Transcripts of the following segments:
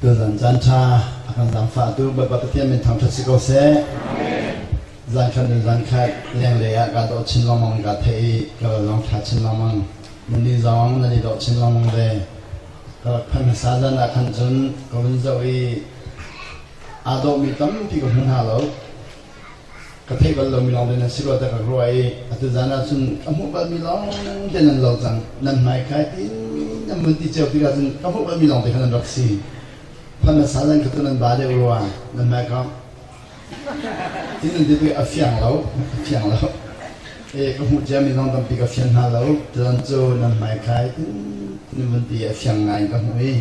Tuchan caan ṭha a kan zaangfahtu Bawipa Pathian min thangṭhat si ko seh. Zankhat nun zankhat lenglei ah kaa dawh chin lengmang kaa theih i ka ral zong ṭha chin lengmang. Na nih zong nan i dawh chin lengmang ve. Ka rak phanh hmasa zan ah khan cun ka vun zoh i aa dawhmi tampi ka hmu hna lo. ka theih bal lomi lawng tein an si rua tiah ka ruah i atu zan ah cun ka hmuh balmi lawng te nan lo cang nan hmaikhai tin nan vun ti ceu tikah cun ka hmuh balmi lawng te khan an rak si phan a sa zan kha tu nan ba deuh rua nan hmaikhang ti nan ti tu a fiang lo a fiang lo e ka hmuh ciami lawng tampi ka fian hna lo cun cu nan hmaikhai tin nan vun ti a fiang ngai in ka hmuh i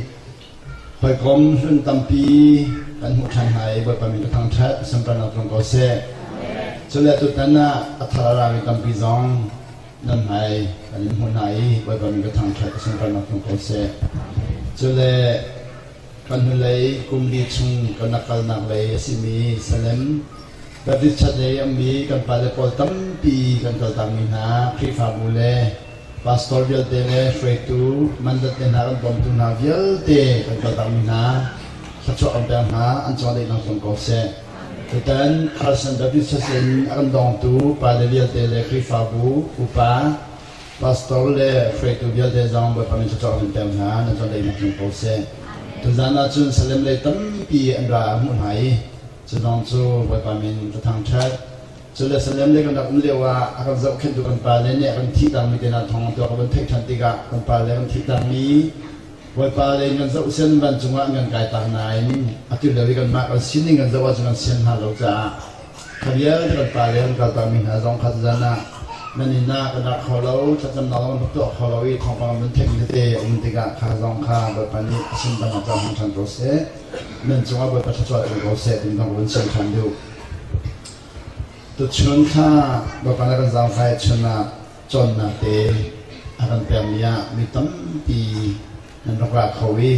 Hawikom hlun tampi kan hmuh ṭhan hna i Bawipa min ka thangṭhat, sunparnak tlung ko seh. Cule tutan ah a thar a rami tampi zong nan hmai kan in hmuh hna i Bawipa min ka thangṭhat, sunparnak tlung ko seh. Cule kan hnulei kum li chung kan rak kalnak lei a simi Salem Baptist Church lei a ummi kan pale pawl tampi kan kaltakmi hna Khrihfabu le Pastor vialte le hruaitu mandat le hna kan bawmtu hna vialte kan kaltakmi hna thluachuah kan pek hna an chawlehnak zong ko seh. Tutan Christ and Baptist Church in a kan dongtu pale vialte le Khrihfabu upa pastor le hruaitu vialte zong Bawipa min thluachuah kan pek hna nan chawlehnak zong ko seh. Tuzan ahcun salem lei tampi an ra a hmuh hna i cu zong cu Bawipa min a thangṭhat. Cu le Salem le kan rak um lio ah a kan zohkhenhtu kan pale nih a kan thih tangmi te hna thawngin tu a kan theih ṭhan tikah kan pale kan thih tangmi Bawipa le in kan zoh sen vancung ah an kan kai tak nain atu lio i kanmah kan sining kan zoh ahcun kan sian hna lo caah kha vialte kan pale kan kal takmi hna zong kha zan ah nan inn ah kan ra kho lo thlacamnak zong kan rak tuah kho lo i thawngpang nan theihmi tete a um tikah kha zong kha Bawipa nih a sundan ah cohang ṭhan ko seh nan cungah Bawipa thluachuah pe ko seh ti zong kan sian ṭhan deuh Tuchun thla Bapan a kan zaangfai chun ah cawnnak te a kan pekmi ah mi tampi nan rak ra kho i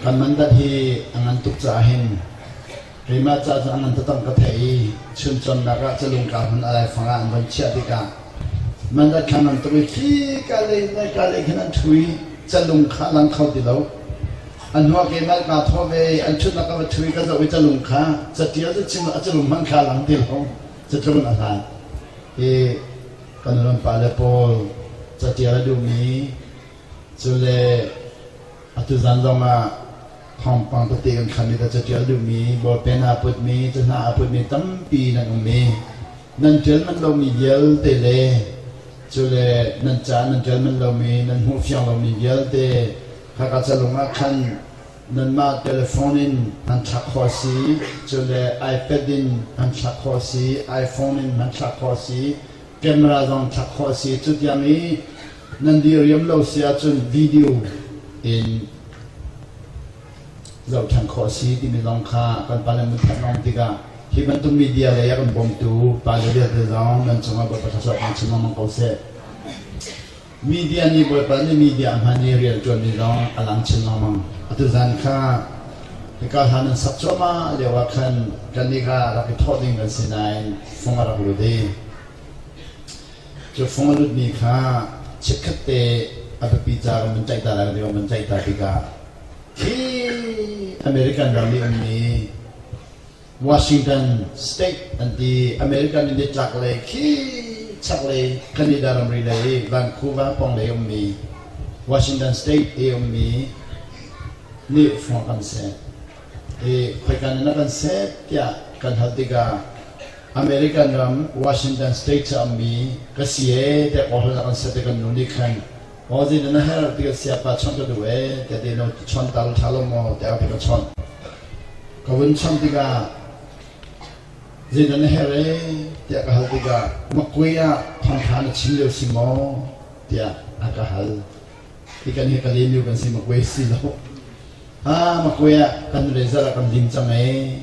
kan mandat hi a ngan tuk caah hin keimah ca cu a ngan tatang ka theih i chun cawnnak ah calungka hmun a laifang ah an van chiah tikah mandat kha ngan tuk i khi ka lei le ka lei khin an ṭhu i calung kha a lang kho ti lo. An hua ke in an kaa thawh ve i an ṭhutnak kam a ṭhu i ka zoh i calung kha caṭial in a calung hmanh kha a lang ti lo. Catlung in a hlan. Hi kan nu pa le pawl caṭial a duhmi cule atu zan zong ah thawngpang tete kan kham i caṭial duhmi, bawlpen aa putmi, cahna aa putmi tampi nan um i Nan ṭialmanh lomi vialte le cule nan ca nan ṭialmanh lomi, nan hmuh fiang lomi vialte khaka calung ah khan nanmah telefon in an thlak khawh a si, cule iPad in an thlak khawh a si, iPhone in an thlak khawh a si, camera zong thlak khawh a si. Cutiang i nan dih riam lo si ahcun video in zohṭhan khawh a si timi zong kha kan pa le na theih a um tikah hi bantuk media lei a kan bawmtu pa le vialte zong nan cungah Bawipa thluachuah pek chin lengmang ko seh. Media nih Bawipa nih media hman i rian ṭuanmi zong a lang chin lengmang. Atu zan kha hika hla nan sak cuahmah lio ah khan kannih kha rak i thawh ding kan si nain fung a rak lut i cu fung a lutmi kha chitkhat te a biapi ca kan van tlaihta lai kan ti kan van tlaihta tikah American ram i an mi Washington State an ti. American in chaklei khi chaklei Canada ramri lei Vancouver pawng lei ummi Washington State i ummi nih hrawk an set i khoikan in a kan set tiah kan hal tikah American ram Washington State cu a ummi ka si ee tiah kawhhran a kan set i kan nu nih khan Mawzi na her ti ka sia pa chon ka duh e te te no chon tal tha lo mo te ka chon ka vun cham tika zin na her e te ka hal tika makwe a tham tha na chin leo si mo te a ka hal ikan hi ka lem kan si makwe si lo ha makwe a kan razor a kan lim chang e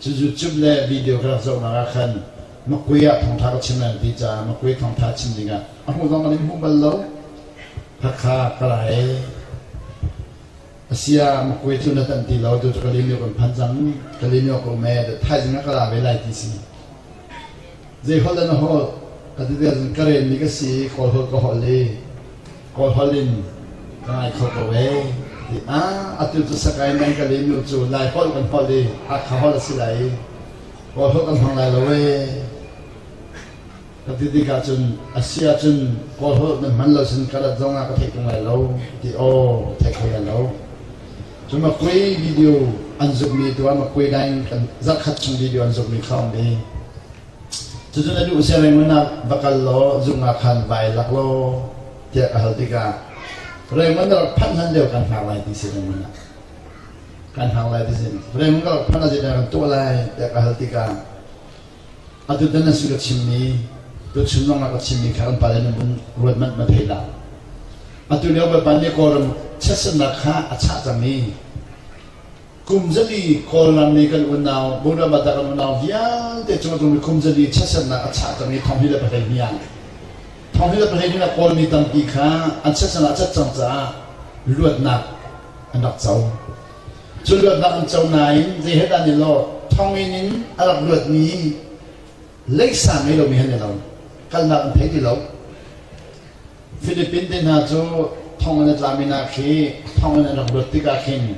Cu YouTube le video ka rak zohnak ah khan Makgui ah thawngṭha ka chim an ti caah Makgui thawngṭha chim dingah a hmu zong an in hmu bal lo. Hakha ka ra hei. Asia Makgui cu na tanh ti lo tu cu Kalimyo kan phan cang. Kalimyo ka um ee da thaizing ah ka ra ve lai ti si. Zei holh in a holh ka ti te cun ka ren mi ka si kawl holh ka holh i kawlholh in ka ngai kho ko ee ti ah atu cu sakai nan ka len nu cu lai holh kan holh i hakha holh a si lai i kawlholh kan hmang lai lo ee ka ti tik ahcun a si ahcun kawlholh nan hman lo sin ka rat zong ah ka theih tung lai lo ti aw theih kho lai lo cu makui video an zukmi tuar makui dai in kan zarhkhat chung video an zukmi kha um ve Cucu na duh sianginn mun ah va kal law zung ah khan vai lak law tiah ka hal tikah Raymond na rak phanh hlan lio kan hngak lai ti sianginn mun ah kan hngak lai ti sin Raymond ka rak phanh ah zeidah kan tuah lai tiah ka hal tikah atu tan nan su ka chimmi tuchun zong ka chimmi kha kan pale nan vun ruat manh ma thei la atu lio Bawipa nih Kawlram chiatsannak kha a chah cang i Kum zali Kawlram i kan unau Buna Mata kan unau vialte cu tung kum zali chiatsernak a chah cang i thong hi le pahleih ni ah thong hi le pahleih ni ah Kawlmi tampi kha an chiatsernak a cat cang caah luatnak an rak co. Cu luatnak an co nain zei he dah ni law thong in in a rak luatmi leisa ngei lomi han ni lo kalnak an thei ti lo. Filipin te hna cu thong an i tlam i nak hi thong in an rak luat tikah khin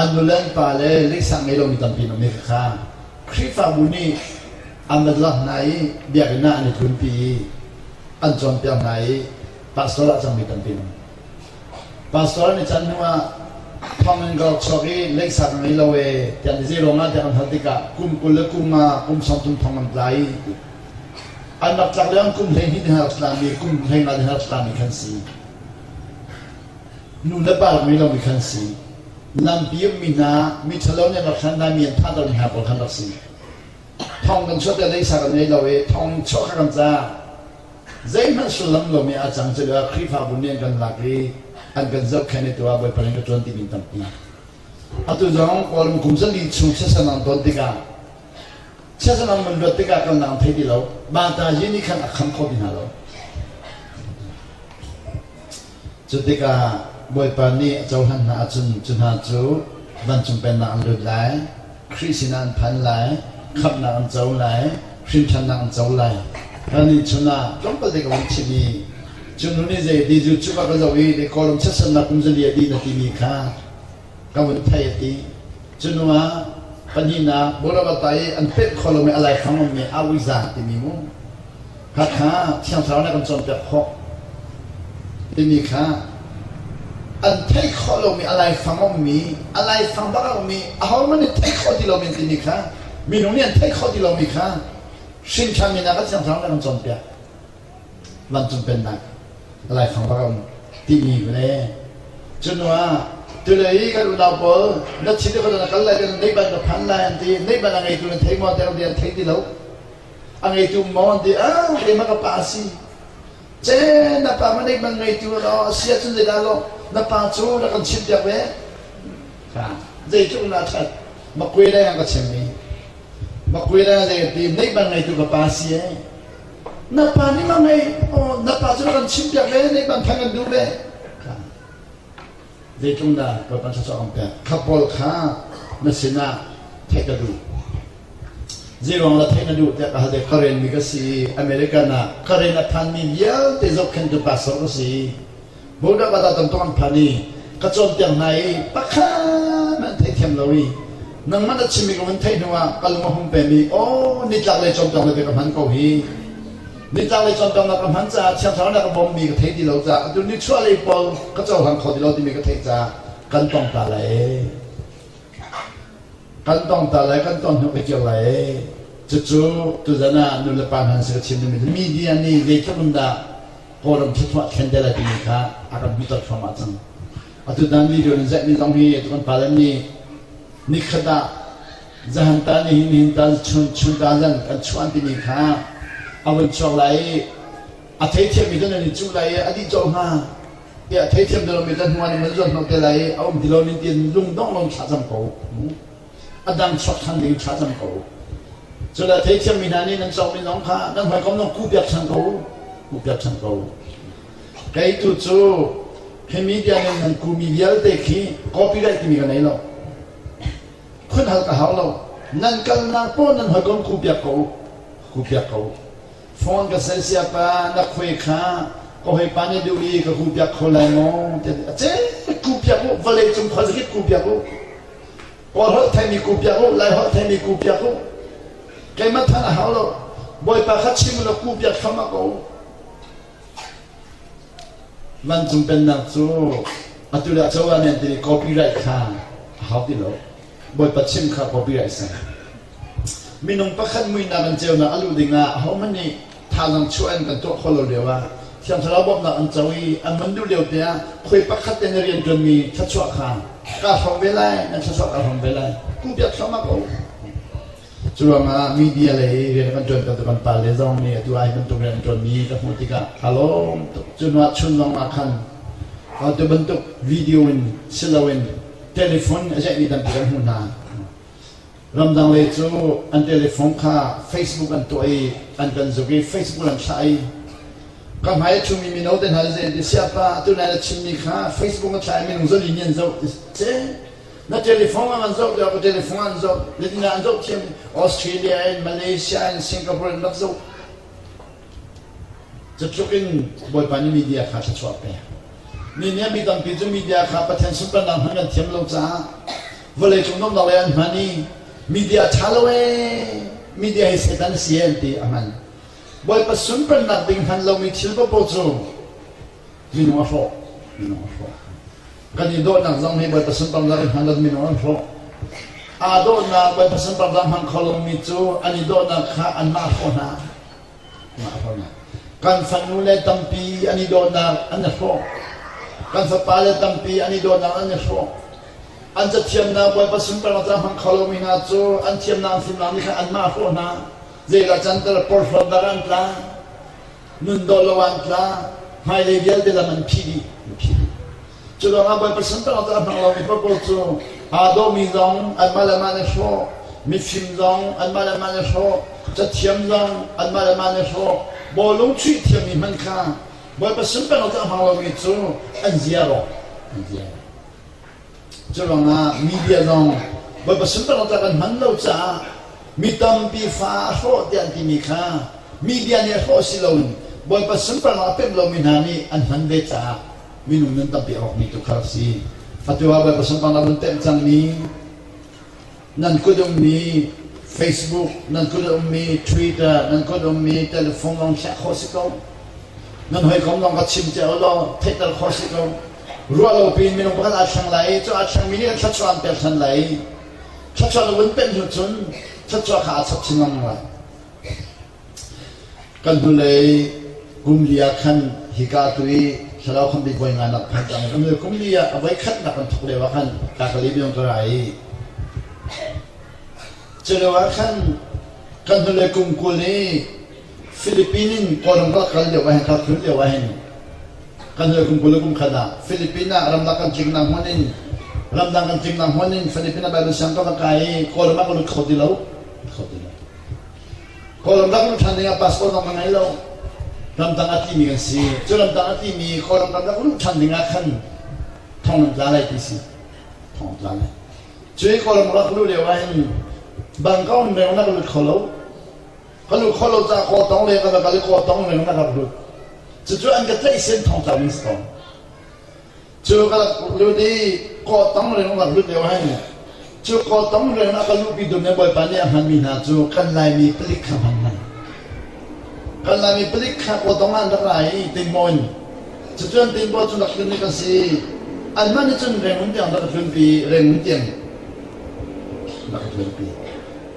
an nu le an pa le leiksak ngei lomi tampi an um i khakha Khrihfabu nih an va zor hna i biakinn ah an i tlunpi i an cawnpiak hna i pastor ah cangmi tampi an um. Pastor an i can hnuah thonginn ka rak chuak i leiksak ngei lo e tiah an i zei ruangah tiah an hal tikah kum kul le kum nga kum sawm thum thong an tla i An rak tlak le an kum hleihnih le har tlan i kum hleima le har tlan i khan si. Nu le pa rak ngei lomi khan si. Lampi ummi hna miṭhalo nih an rak hran mi an thah lomi hna pawl khan rak si. Thong kan chuah te leisa kan ngei lo i thong chuah kha kan ca. Zeihmanh sullam lomi a cang cuah Khrihfabu nih an kan lak i an kan zohkhenh i tuah Bawipa nih ka ṭuan ti min tampi. Atu zong Kawlram kum zali chung sesan an ton tikah Siasal an van luat tikah kan lang thai ti lo. Bata hi nih khan a kham kho mi hna lo. Cu tikah Bawipa nih a cohlan hna ahcun cu hna cu vancung pennak an lut lai, Khrih sinah an phan lai, khamhnak an co lai, hrinthannak an co lai. Kannih chunah tlawmpal dek a vun chim i cu nu nih zei di zu cuka ka zoh i le kawlram siasatnak kum zali a dih na timi kha ka vun theih a ti. Cuhnu ah pahnihnak Bolabatta i an pet kho lomi a laifang ummi Awizan timi mu Hakha thiangthlarau nih kan cawnpiak khawh timi kha an theih khawh lomi a laifang ummi a laifang bak a ummi ahohmanh nih theih khawh ti lomi an timi kha minung nih an theih khawh ti lomi kha hrinkham in a kan thiangthlarau nih a kan cawnpiak Vancung Pennak, laifang bak a um timi le cu hnuah tulei kan unau pawl na thin le na kal lai kan neih ban na phan lai an ti neih ban a ngeitu nan thei maw teng an thei ti lo a ngeitu maw an ti ah keimah ka pa si che na pa ma neih ban ngeitu law a si ahcun zeidah law na pa cu na kan chimh piak ve zeitluk na that makuai lai ang ka chimmi makuai lai ang zei ti neih ban ngeitu ka pa si ee na pa nih ma ngei na pa cu kan chim piak ve nih ban thang kan duh ve zeitlung dah kan pan sasawk an pek kha paul kha na sinah theih ka duh zeiruang la theih na duh tiah ka hal ka ren mi ka si american ah ka ren a phanmi vialte zohkhentu pastor ka si Buda Badatan tu an phan i ka cawnpiak hna i pakhat an theithiam lo i nangmah na chimmi ka hun theih hnuah ka lung a hung pem i aw nitlak lei cawnpiak na te ka hman ko hi nitlak lei cawnpiak na ka hman caah thiang thlarau na ka bawmmi ka thei ti lo caah atu nichuah lei pawl ka cohlang kho ti lo timi ka theih caah kan tong ta lai kan tong ta lai kan ton hnuk i kio lai cucu tuzan ah nu le pa hna an si ka chim mi media nih zeitluk in dah Kawlram thluachuah thlen a timi kha a kan hmuhter hramah cang. Atu dan video nan zeihmi zong hi atu kan pale nih nikhat ah zahan ta ni hin hin ta chun ta zan kan chuan timi kha a vun chuak lai i a theithiammi cu nan i cuh lai i a dih cawh hnga tiah theithiam dolomi kan hnuan in van zuan hnawh te lai i a um ti lo nin tiin lung dongh lo in thlah cam ko. a dang chuak ṭhan ding in thlacam ko. Culah theithiammi hna nih nan cawmi zong kha kan hawikom zong kuhpiak ṭhan ko, kuhpiak ṭhan ko. Kei tu cu hi media nih nan kumi vialte khi copyright timi ka nei lo. Phun hal ka hau lo. Nan kalnak pawl nan hawikom kuhpiak ko, kuhpiak ko. Phone ka sai sia pa na khuai kha ka hoi pa nih duh i ka kuhpiak kho lai maw? A cek kuhpiak u, vawlei cung khuazakip kuhpiak u. Kawl holh theimi ku piak u, Lai holh theimi ku piak u. Keimah than a hau lo. Bawipa kha chim u law ku piak kham ah ko. Vancung pennak cu atu le cho amen timi copyright kha a hau ti lo. Bawipa chim kha copyright sang. Minung pakhat muihnak in ceunak a luh dingah ahohmanh nih thazaang chuah in kan tuah kho lo lio ah Thiang Thlarau bawmhnak an co i an hman duh lio te ah khuai pakhat te na rianṭuanmi thluachuah kha ka hrawm ve lai nan thluachuah ka hrawm ve lai kuhpiak thluahmah ko cu ruangah media lei i rian kan ṭuan tu kan pale zong nih atu ah hi bantuk rian ṭuanmi ka hmuh tikah ka lawm tuk cu nuah chun zong ah khan atu bantuk video in si loin telephone a ceihmi tampi kan hmuh hna Ramdang lei cu an telephone kha Facebook an tuah i an kan zuk i Facebook an thlah i ka hmai a ṭhumi mino te hna zei ti siapa atu na chimmi kha Facebook an thlah i minung zali nih an zoh ti si na telephone ah an zoh tiah ka telephone ah an zoh nitin ah an zoh thiam Australia in Malaysia in Singapore in rak zoh cutluk in Bawipa nih media kha thluachuah pe mi nih mi tampi cu media kha Pathian sunparnak hman kan thiam lo caah vawlei cung domdok le an hman i media a ṭha lo ee media hi Satan a si an ti a hman Bawipa sunparnak ding hman lomi thil papo cu minung a hrawh minung a hrawh kan i dawhnak zong hi Bawipa sunparnak in hman lo minung an hrawh aa dawhnak Bawipa sunparnak hman kho lomi cu an i dawhnak kha anmah hrawh hna Kan fanu le tampi an i dawtnak an i hrawh. Kan fapa le tampi an i dawtnak an i hrawh. An cathiamnak Bawipa sin per ca hmang kho lomi hna cu an thiamnak fimnak nih khan anmah hrawh hna. Zeidah can tel porhlawtnak an tla? Nun dawt lo an tla. Hmailei vialte lam an phih dih. An phih dih. Cu lawngah Bawipa santaknak a hnang lomi purpose cu aa dawhmi zong anmah le mah nih hrawh, mifim zong anmah le mah nih hrawh, cathiam zong anmah le mah nih hrawh, bawlung chuih thiammi hmanh kha Bawipa santaknak a hmang lomi cu an zia rawh, an zia rawh. Cu lawngah media zong Bawipa santaknak kan hman lo caah mi tampi fa a hrawh tiah an timi kha media nih hrawh si loin Bawipa santaknak a pemh lomi hna nih an hman ve caah minung nun tampi a rawk mi tu kha rak si. Atu ah Bawipa sunparnak nan temh cangmi, nan kut ummi Facebook, nan kut ummi Twitter, nan kut ummi telephone lawng khiah khawh si ko. Nan hawikom lawng ka chim te law theihter khawh si ko. Ruah lo piin minung pakhat aa thleng lai i cu aa thlengmi nih kan thluachuah an pek than lai. Thluachuah na vun pemh hnu cun thluachuah kha aa chap chin lengmang lai. Kan hnulei kum li ah khan hika tu i thlarau khambi puai nganak phan cang. Kum li ah a voi khatnak an thawk lio ah khan ka ka libiang ka ra i culio ah khan kan hnulei kum kul i Philippine in Kawlram ka kal lio ah hin ka khul lio ah hin kan hnulei kum kul le kum khat ah Philippine ah ramdang kan ciknak hmun in ramdang kan ciknak hmun in Philippine ah Bible siang kan rak kai i Kawlram ah ka lut kho ti lo. Kho ti lo. Kawlram dang ram ṭhan dingah passport dang ka ngei lo. Ramdang a timi kan si. Cu ramdang a timi Kawlram ramdang rum ṭhan dingah khan thonglamtla lai ti si. Thonglamtla lai. Cu i Kawlram rak luh lio ah hin Bangkok in veng na ka lut kho lo. Ka lut kho lo caah kaw tong le ka va kal i kaw tong veng na ka lut. Cucu an ka tlaih sen thongtla ding si ko. cu ka lut i kaw tam rin ka lut lio hen cu kaw tam rin a ka lupi dun ne bawipa nih a hman mi hna cu kan laimi palik kha hman hman kan laimi palik kha kaw tong an rak ra i tin mo in cucun tin bo cu nak hlun ni kan si an man ni cun reng mun tiang rak hlun pi reng mun tiang rak hlun pi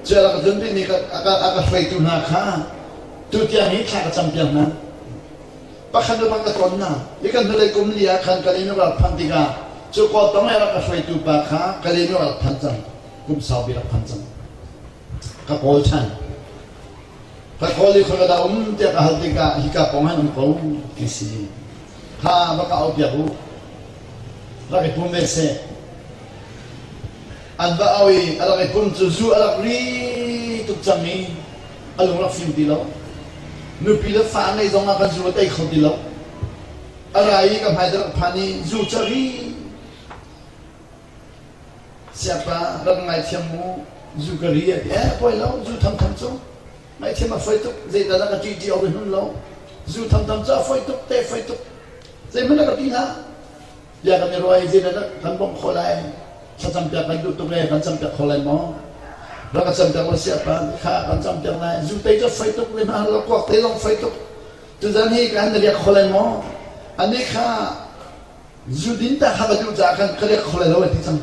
cu rak hlun pi ni ka aka hraitu hna kha tu tiang hi thla ka cam piang hna pakhat le pakhat a tonnak. Mi kan hnulei kum li ah khan ka len rak phanh tikah cu kua tong i rak a hruaitu pa kha ka len rak phanh cang kum saupi rak phanh cang ka kawl than ka kawl i khoi ka da um tiah ka hal tikah hi ka pong han um ko ti si kha va ka au piak u rak i pum ve se an va au i a rak i pum cu zu a rak ri tuk cang i a lung rak fim ti lo. Nupi le fa ngeih zong ah kan zung a tei kho ti lo. A ra i ka hmai rak phan i zu cari. Siapa rak ngaithiam mu zu ka ri a ti. Eh, poi lo, zu thangthang cu. Ngaithiam a foi tuk, zeidah dah ka ṭih ṭi ohi hun lo. Zu thangthang cu a foi tuk, te foi tuk. Zeihmanh a ka ti hlah. bia kan i ruai zeidah kan bawmh khawh lai thlacampiak kan duh tuk le kan campiak kho lai maw rak ka campiak lo sia pa kha kan campiak lai zu tei cu fai tuk le hna kuak te zong fai tuk tuzan hi kan na riak kho lai maw ani kha zu din ta kha ka duh ca kan ka riak kho lai lo ti cang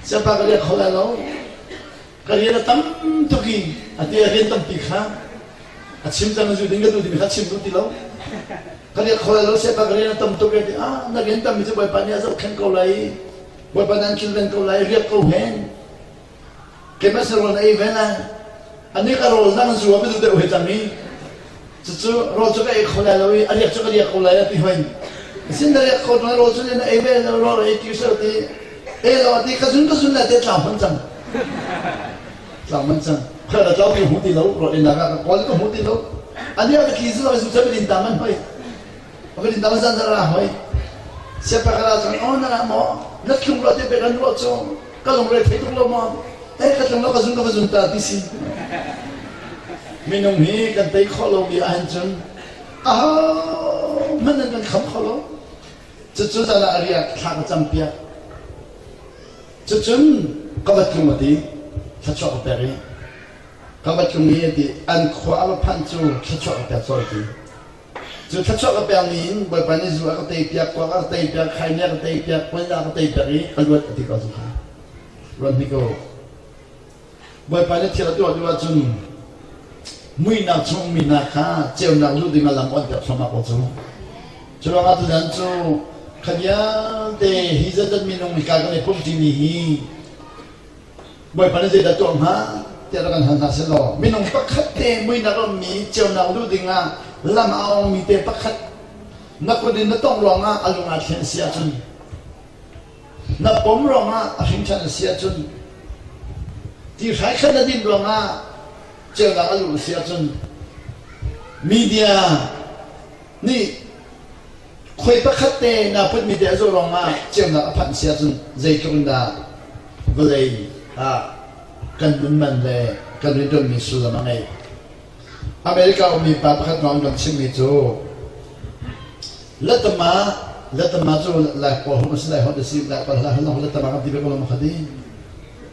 siapa ka riak kho lai lo ka rian a tam tuk i a te a rian tampi kha a chim cang zu ding ka tu dimi kha chim duh ti lo ka rian kholai lo siapa ka rian a tam tuk e ti ah na rian tammi cu bawipa nih a zohkhenh ko lai bawipa nan kilven ko lai riak ko hen kemas na rawn ei ven a ani ka rawl dang zuam a du deuh he cang i Cucu rawl cu ka ei kho lai lo i a riak cu ka riak ko lai a ti hoi. Sin na riak ko ṭung rawl cu na ei ve lo rawl ei ti usal ti ei lo ti ka zun ka zun lai te tlau hman cang. Tlau hman cang. Kha na tlau ti hmu ti lo rawl ei nak ah ka kawl ka hmu ti lo. A nia ka tli zun lo ai zu cem din tang an hoi. A kan in dang zan na ra hoi. Siapa ka ra cun, oh na ra maw? Na tlung lo ti pe kan ruah cu. Ka lungre thei tuk lo maw? Eh ka tlung lo ka zun ka va zun ta ti si. Minung hi kan tei khawh lomi ahhin cun a hman nan kan kham kho lo. Cucu zan ah a riak thla ka cam piak. Cucun ka va tlung a ti. Thluachuah ka pek i ka va tlung i ti an khua a va phanh cu thluachuah ka pek sual ti. Cu thluachuah ka pekmi in Bawipa nih zu a ka teipiak, kuak a ka teipiak, khaini a ka teipiak, puaina a ka teipiak i ka luat a ti ko cu kha. Ruat hnik u. Bawipa nih thil a tuah duh ahcun muihnak chung mi hna kha ceunak luh dingah lam awnhpiak thluahmah ko cu. Cu ruangah tutan cu kha vialte hi zeizat minung hika kan i pumṭi ni hi Bawipa nih zeidah tuah hnga tiah rak kan hal hna sehlaw minung pakhat te muinak rammi ceunak luh dingah lam a awngmi te pakhat na kut in na tongh lawngah a lung ah thlen a si ahcun na pom lawngah a hringṭhan a si ahcun ti hrai khat na din ruangah ceunak a luh a si ahcun media Nih khoi pakhat te na putmi te a zawh lawngah ceunak a phanh si ahcun zeitluk in dah vawlei ah kan nunman le kan rianṭuanmi sullam a ngeih. America ummi pa pakhat kong kan chimhmi cu letama letama cu lai hawhom a si lai hawt a si lai hawt a si hal awk letama kan ti ve ko lo makhati.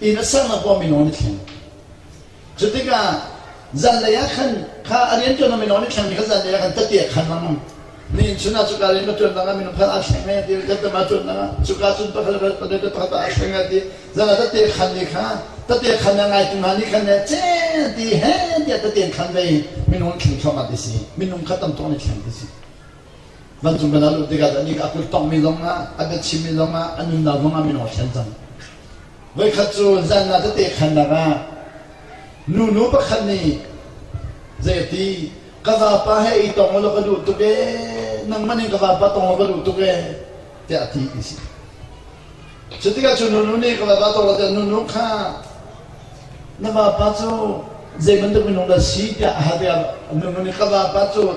inn a sang ah pawm minung ni thleng cu tikah zanlei ah khan kha a rian tuan minung ni thleng ni kha zanlei ah khan tati a khan lang ni in chun ah cuka rian pa tuan nang minung kha a thleng ngai ti kan tama tuan nang cuka cun pakhat pakhat pakhat pakhat a thleng ngai ti zana tati a khan ni kha tati a khan na ngai tu hna ni khan ne che ti he ti a tati an khan ve minung thleng thawm at ti si minung kha tam tawng ni thleng ti si Vancung kan lut tikah cun nika a kul tongmi zongah a biachimmi zongah a nunnak zongah min aw thlen cang. Voikhat cu zanna tete khannak ah nunu pakhat nih zeiti ka vapa he i tong ulaw ka duh tuk e nangmah nih ka vapa tong ulaw ka duh tuk e tiah a ti i si. Cu tikah cu nunu nih ka vapa tong lo tiah nunu kha na vapa cu zei bantuk minung dah si tiah a hate ah nunu nih ka vapa cu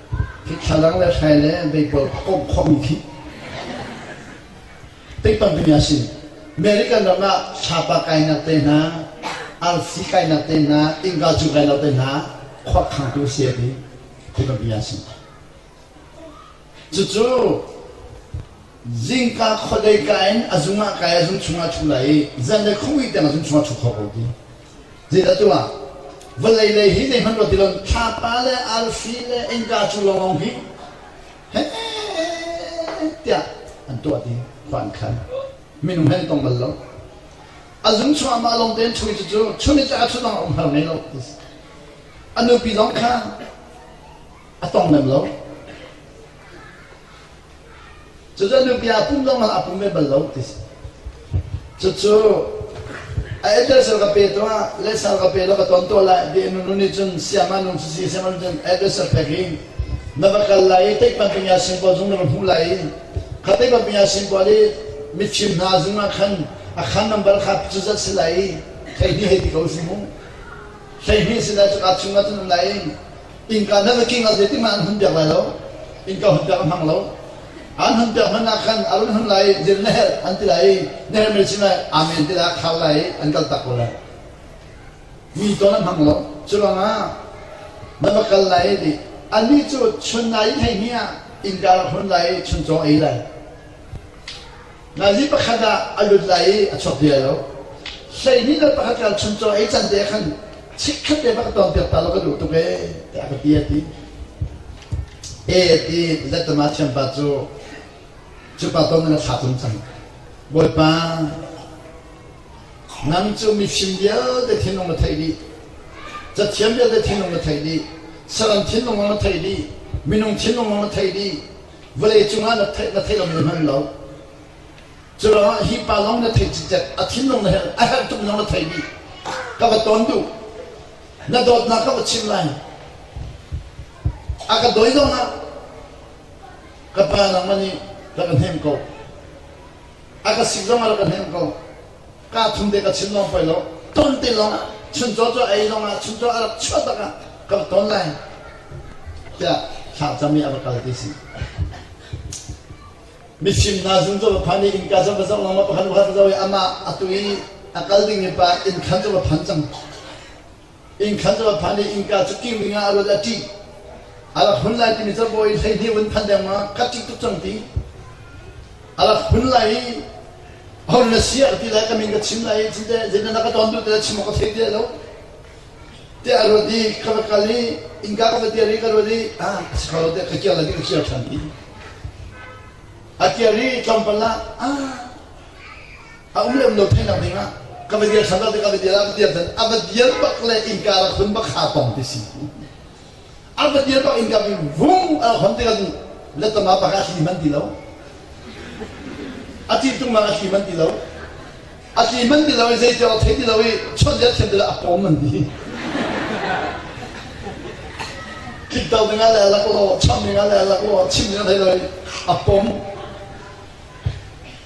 Hi thlalang le hrai le meipal a komh khomi khi tikpang pimi a si. American ram ah sapa kainak te hna, arsi kainak te hna, innka cu kainak te hna khuakhangtu si a ti. Tikpang pimi a si. Cucu zingka khuadei ka in a zung ah kai a zung chung ah thu lai i zan le khongui tiang a zung chung ah thu kho ko ti. Zin a tu ah vawlei lei hi zeihmanh ruat ti lo thlapa le arfi le innka cu lawng hi he tiah an tuah ding van khan minung he an tong bal lo a zung chungah mah lawng tein chungin cucu chungin cu a thut lawng um har ngei lo a nupi zong kha a tong lem lo Cucu nupi aa pum zongah a pum ve bal lo ti si. Cucu a etel sal ka pe tungah le sal ka pe lo ka ton to lai di nu nih cun siama nung sisi siama nung cun address a pek hi na va kal lai i teik banping ya singpaw zung na va hmuh lai i kha teik banping ya singpaw li mitchim hna zungah khan a khan nambar kha cu zat si lai i thei hni hei ti ko si mu. Hlei hni si lai cu ka chungah cun um lai i Innka nan a king a zeitin mah an hun piak lai lo. Innka hun piak a hmang lo. An hun piak hman ah khan a run hun lai zin na herh an ti lai na herh me sin lai amen ti lah khar lai an kal tak ko lai. Mi ton a hmang lo. Culang ah na va kal lai di anih cu chun nai thei mi ah innka hun lai chun chaw ei lai. Nazi pakhat ah a lut lai i a chuak bia lo. Hleihnih le pakhat ka chun caw ei can te khan chik khat te bak ton tiap ta lo ka duh tuk e te a ka ti a ti. E ti lettama thiam pa cu cu pa ton na thla tum cang. Bawipa nang cu mifim vialte thinlung na theih dih. Cathiam vialte thinlung na theih dih. Saram thinlung na theih dih. Minung thinlung na theih dih. vawlei cungah na theih na theih lo men hman lo curuangah hi pa lawng na theih cicet a thinlung na herh a herh tuk lawng na theimi ka va ton duh na dawtnak ka va chim lai a ka doi zong ah ka pa nang man i ka ka hnem ko A ka si zong a ka hnemh ko. Ka thum te ka chim lawng poi lo. Ton te lawng ah, chuncaw cu ei lawng ah, chuncaw a rak chuah tak ah, ka va ton lai. Tiah thlangcam i a va kal ti si. Mifim hna zun cu va phan i innka cang va zoh lawng ma pakhat pakhat va zoh i amah a tu i a kal ding i pa inn khan cu va phan cang. Innkhan a rat hlan i innka cu ing ding ah a rat a ṭih. A rak hun lai timi cu bawi hleihnih vun phanh dengmang ka ṭih tuk cang ti. A rak hun lai i a hun na siah ka ti lai ka min ka chim lai i cinte zeitin na ka ton dur tila chim awk ka thei ti lo. Te a ruat i ka va kal i innka ka va tiar i ka ruat i ah a si kho lo tiah ka kiar lai ti ka kiar ṭhan ti. A kiar i tlawmpal ah ah a um lem lo theinak ding ah ka va dir than lo ka va dir a va dir than a va dir bak le innka rak hun bak ha tong ti si a va dir bak innka bi vung a hon te adu letama bak a thli man ti lo a ti tung ma a thli man ti lo a thli man ti lo i zei tiang thei ti lo i chon dia thlen ti a pom man ti kik dau ding a le lak lo cham ding a le lak lo chim ding a thei lo i a pom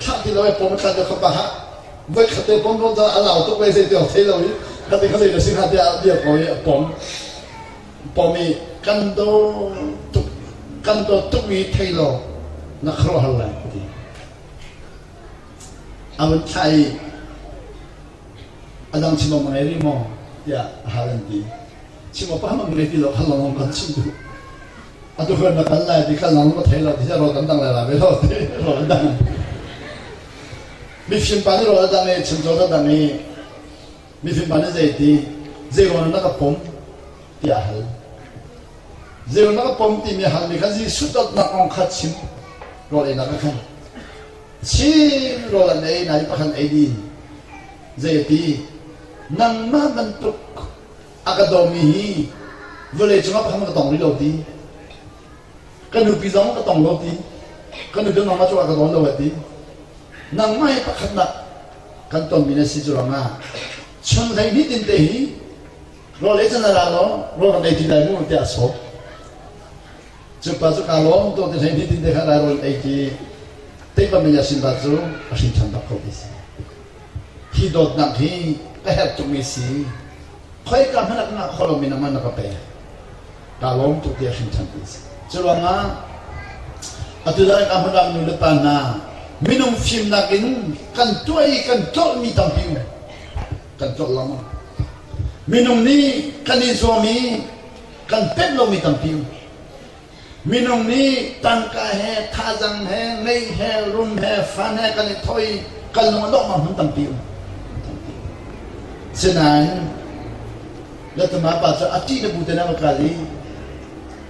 Thlah ti lo i pom a thlah deuh kha pa hlah. Voi khat te pom rawm a lau tuk ve zei tiang thei lo i khatte khatte na si hnga tiah dir ko i a pom. Pom i kan do tuk kan do tuk i thei lo na khuaruahhar lai ka ti. A vun thlah i a dang chimam a ngei rih maw tiah a hal an ti. Chimam pa ham an ngei ti lo hal long hong kan chim duh. Atu kan na kal lai ti kha nang na thei lo ti rawl kan dang lai la ve lo ti rawl an dang. Mifim pa nih rawl a dang i chimcaw an dang i mifim pa nih zei ti zeiruang na ka pom ti a hal. Zeiruang na ka pom timi hal mi khan Jesuh dawtnak kong kha chim rawl ei na ka khan. Chin rawl an ei na i pakhan ei di. Zei ti nangmah bantuk a ka dawmi hi vawlei cungah phang ka tong rih lo ti ka nupi zong ka tong lo ti ka nupi nangmah cungah ka tong lo ti nangmah he pakhatnak kan tonmi na si cu rangah chan hlei ni tin te hi rawl ei can la law rawl kan ei ti lai mu tiah a sawm cupa cu kaa lawm to ti hlei ni tin te kha lai rawl ei ti teipa min yasin ba cu a hrin than bak ko ti si Hi dawtnak hi ka herh tukmi si. Khoika hmanh ah na holh in amah na ka pe. Ka lawm tuk tiah hrinṭhan ti a si. Cu ruangah atu dang in a hmurang nu le pa hna minung fimnak in kan tuah i kan tlolhmi tampi um. Kan tlolh lengmang. Minung nih kan i zuam i kan pemh lomi tampi um. Minung nih tangka he, thazang he, ngei he, rum he, fan he kan i thoi. Kan lung a dongmang hmun tampi um. Sinain letama pa cu a ṭih na bu te na va kal i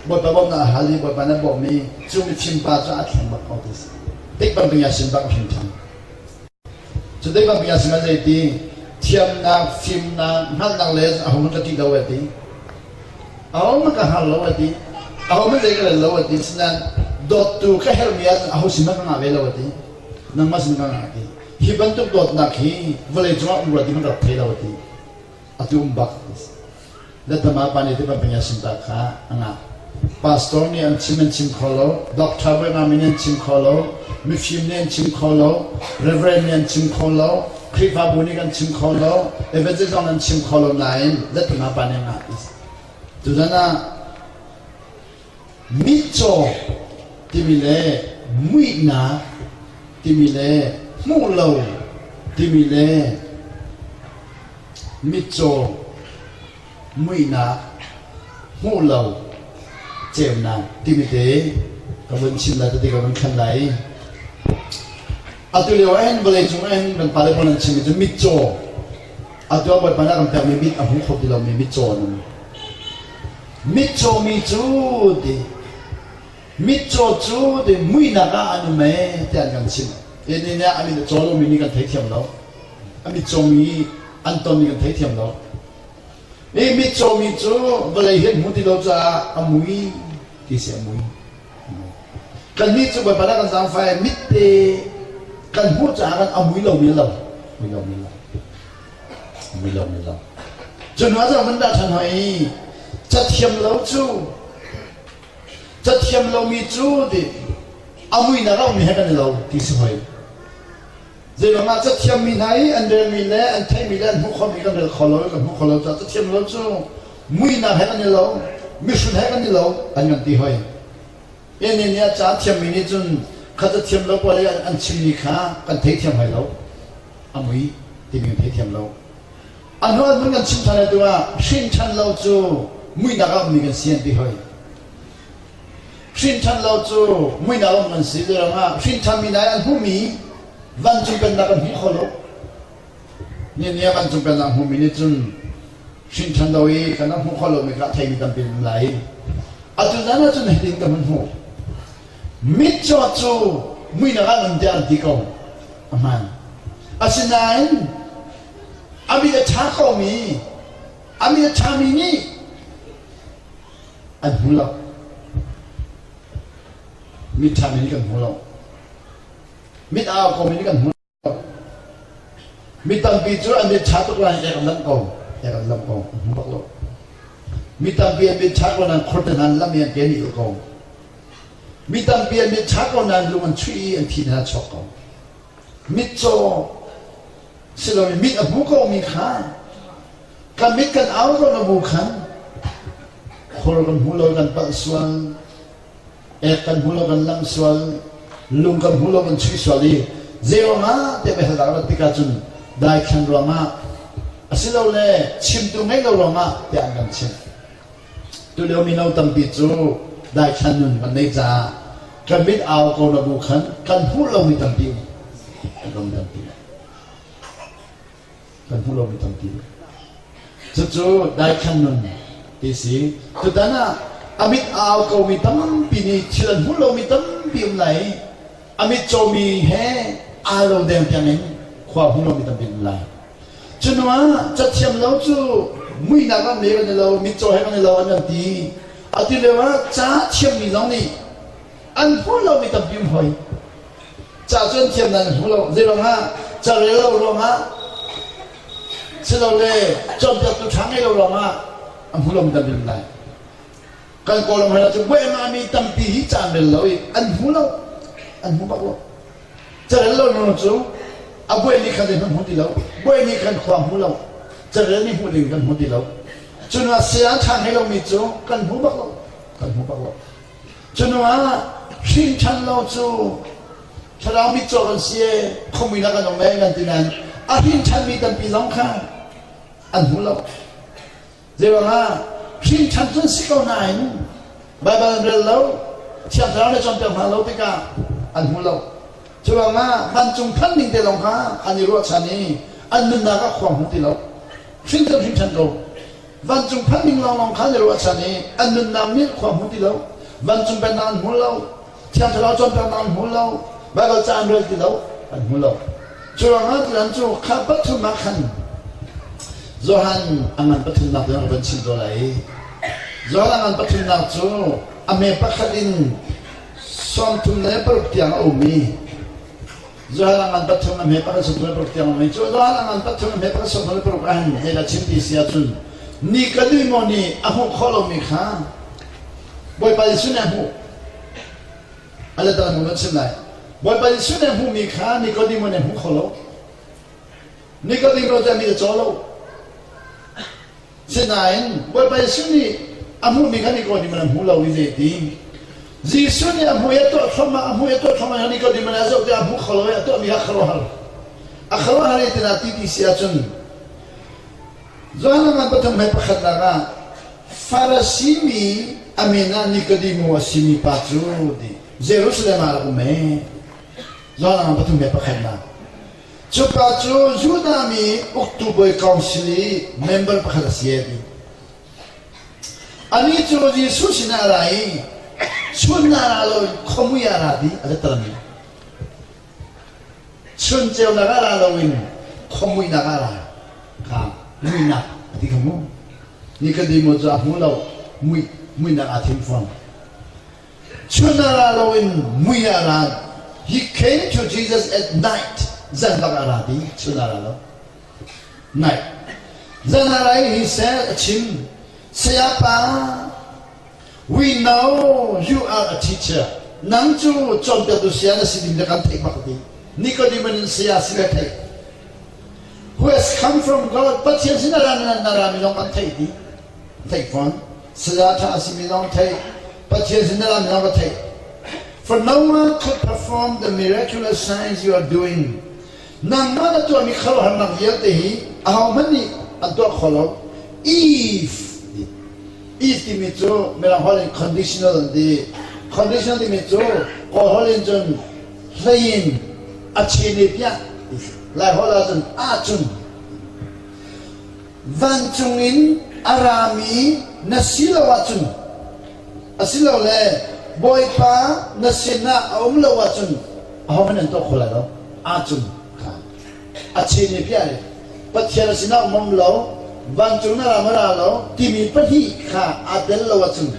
bawipa bawm na hal i bawipa na bawm i cu mi fim pa cu a thleng bak ko ti si. Tik bang ding ya sin bak a hrim ṭhan. Cu tik ah bia sihmanh zei ti thiamnak, fimnak, hngalhnak le a ho hmanh ka ṭih lo ai ti. A ho hmanh ka hngal lo ai ti. A ho hmanh zei ka rel lo ai ti. Sinain dawttu ka herhmi ahcun a ho sin hmanh ka ngah ve lo ai ti. Nangmah sin ka ngah ti. Hi bantuk dawtnak hi vawlei cungah um rua ding an rat thai lo ai ti. Atu um bak. Detham ah pa nih tibantuk in a simtal kha a ngah. Pastor nih an chim an chim kho lo. Doctor bu ngam in an chim kho lo. Mifim nih an chim kho lo. Reverend nih an chim kho lo. Khrihfabu nih kan chim kho lo. Evangelist zong an chim kho lo nain detham ah pa nih a ngah. Tutan ah mitcaw timi le muihnak timi le hmuh lo timi le mitcaw muihnak hmuh lo ceunak timi te ka vun chim lai tete ka vun thlen lai atu lio en vawlei cung en kan pale pawl an chim mi cu mitcaw atu a bawipa na kan pekmi mit a hmu kho ti lomi mitcaw an um Mitcaw mi cu ti mitcaw cu ti muinak ah an um ee tiah an kan chimh. Nihin ah a min a caw lomi nih kan thei thiam lo. A mitcaw mi an tonmi kan thei thiam lo. Nih mitcaw mi cu vawlei hi an hmu ti lo caah a mui ti si a mui. Kannih cu Bawipa le kan zaangfai mitte kan hmuh caah kan a mui lomi a lo. Mui lomi a lo. Cu hna zong kan dah ṭhan hoi i cathiam lo cu cathiam lomi cu a muinak ah um he kan i lo ti si hoi. Zeilangah cathiammi hna i an relmi le an theihmi le an hmuh khawhmi kan rel kho lo i kan hmuh kho lo caah cathiam lo cu muinak he kan i lo, mihrut he kan i lo an kan ti hoi. Tehne nih a ca a thiammi nih cun khat a thiam lo poi an chimmi kha kan theithiam hai lo. A mui timi kan theithiam lo. A hnu ah kan chim ṭhan tu ah hrinṭhan lo cu muihnak a ummi kan si an ti hoi. Hrinṭhan lo cu muihnak um kan si ti rangah hrinṭhanmi nai an hmumi vancung pennak kan hmuh kho lo. Nian ni ah vancung pennak hmumi nih cun Hrinṭhan lo i kan rak hmuh kho lomi kha a theimi tampi an um lai i atu zan ah cun hitin ka hun hmuh. Mitcawt cu muinak ah nun tiah an ti ko a hmaan. Asinain a mit a ṭha komi a mit a ṭhami nih an hmu lo. Mit ṭhami nih kan hmu lo. Mit aa komi nih kan hmu lo. Mi tampi cu an mit ṭha tuk lai tiah kan lamh ko tiah kan lamh ko hmu bak lo. Mi tampi an mit ṭha ko nain khurte hna lam i an ke nih ul ko. Mi tampi an mit ṭha ko nain lung an chuih i an thi hna chawk ko. Mitcaw si lomi mit a hmu komi kha ka mit kan au ko na bu khan khur kan hmu lo kan palh sual Ek kan hmu lo, kan lam sual, lung kan hmu lo, kan chuih sual i zeiruangah te mehal dah rat tikah cun daithlan ruangah asilole chimtu ngeih lo ruangah te an kan chimh. Tulio mino tampi cu daithlan nun kan nei caah kan mit au ko na bu khan kan hmuh lomi tampi um, kan ram tampi um. kan hmuh lo mi tampi. Cucu daikhan nun ti si. Tutan ah a mit a au ko mi tampi nih thil an hmuh lo mi tampi um lai i a mit comi he aa lo deng tiang in khua hmu lo mi tampi um lai. Cunu ah cathiam lo cu muihnak ah meu an i lo, mitcaw he an i lo an kan ti. Atu lio ah ca thiammi zong nih an hmu lomi tampi um hoi ca cun thiam nan hmu lo zei ruangah ca rel lo ruangah silole cawnpiaktu ṭha ngei lo ruangah a hmu lomi tampi um lai kan kawlram hal cu buaimahmi tampi hi ca an rel lo i an hmu lo an hmu bak lo carel lo nu cu a buai nih khan zeihmanh hmu ti lo buai nih kan khua hmu lo carel nih hmuh ding kan hmu ti lo cunak saya ṭha ngei lomi cu kan hmu bak lo kan hmu bak lo Cuhnuah hrinṭhan lo cu thlarau mitcaw kan si ee, khuami lak kan um ee kan ti nain a hrinṭhanmi tampi zong kha an hmu lo. Zeibangah hrinṭhan cun si ko nain Baibal an rel lo, Thiang Thlarau nih cawnpiak hna lo tikah an hmu lo. Cuangah vancung than ning te zong kha an i ruahchan i an nunnak ah khuang hmu ti lo. Hrinṭhan hrinṭhan ko. Vancung phan ning lawnglawng kha na ruahchan i an nunnak nih khua hmu ti lo. Vancung pennak an hmu lo. Thiang thlarau cawnpiaknak an hmu lo. Baibal ca an rel ti lo. An hmu lo. Cu ruangah tutan cu kha pathum ah khan Johan a ngan pathumnak tiang a van chim tawn lai. Johan a ngan pathumnak cu a hme pakhat in sawm thum le paruk tiang a um i Israel angan pat chung me para sum le paruk tiang mai chu Israel angan pat chung me para sum le paruk an hei la chim ti sia chun ni ka ni mo ni a hmu kho lo mi kha Bawipa Jesuh ne hmu ala ta nu chim lai Bawipa Jesuh ne hmu mi kha Nikodemo ne hmu kho lo Nikodemo ro ta mi cha lo Sinain Bawipa Jesuh nih a hmuhmi kha Nikodem an hmu lo i zeitin? Jesuh nih a hmui a tuah thluahmah, a hmui a tuah thluahmah i Nikodem a zoh tikah a hmu kho lo i a tuahmi kha khuaruahhar a khuaruahhar i tinak ti ti si ahcun Johan Langan pathum hei pakhatnak ah Farasi mi a min ah Nikodemo a simi pa cu Jerusalem ah a rak um ee. Johan Langan pathum hei pakhatnak. Cuka cu Judah mi uktu bawi council i member pakhat a si a ti. Anih cu Jesuh sinah a ra i chunnar ah lo khuamui ah ra ti a biatarmi. Chun ceunak ah ra loin khuamuinak ah ra. Kang muinak a ti kha mu. Nikodemo cu a hmu lo. Mui, muinak aa thim fawn. Chunara lo in mui a ra. He came to Jesus at night. Zan bak a ra ti chunara lo. Night. Zanarai he said a chim. Sayapa, we know you are a teacher. Nang cu cawnpiaktu sia na si ding na kan theih bak ti. Nicodemus in saya si na thei. Who has come from God, Pathian sin na ra na ra mi zong kan thei ti. theih fawn. Saya ṭha a simi zong theih, Pathian sin dal mi zong ka theih. For no one could perform the miraculous signs you are doing. Nangmah na tuahmi khuaruahharnak vialte hi ahohmanh nih an tuah kho lo. If if timi cu mirang holh in conditional an ti. Conditional timi cu Kawl holh in cun hlei in a chin i piah. Lai holh ah cun ahcun vancung in a rami na si lo ahcun asilole bawipa na sinah a um lo ahcun ahohmanh an tuah kho lai lo acung a chin ni piah le pathian a sinah um lo vancung na ram a ra lo timi pahnih kha aa tel lo ahcun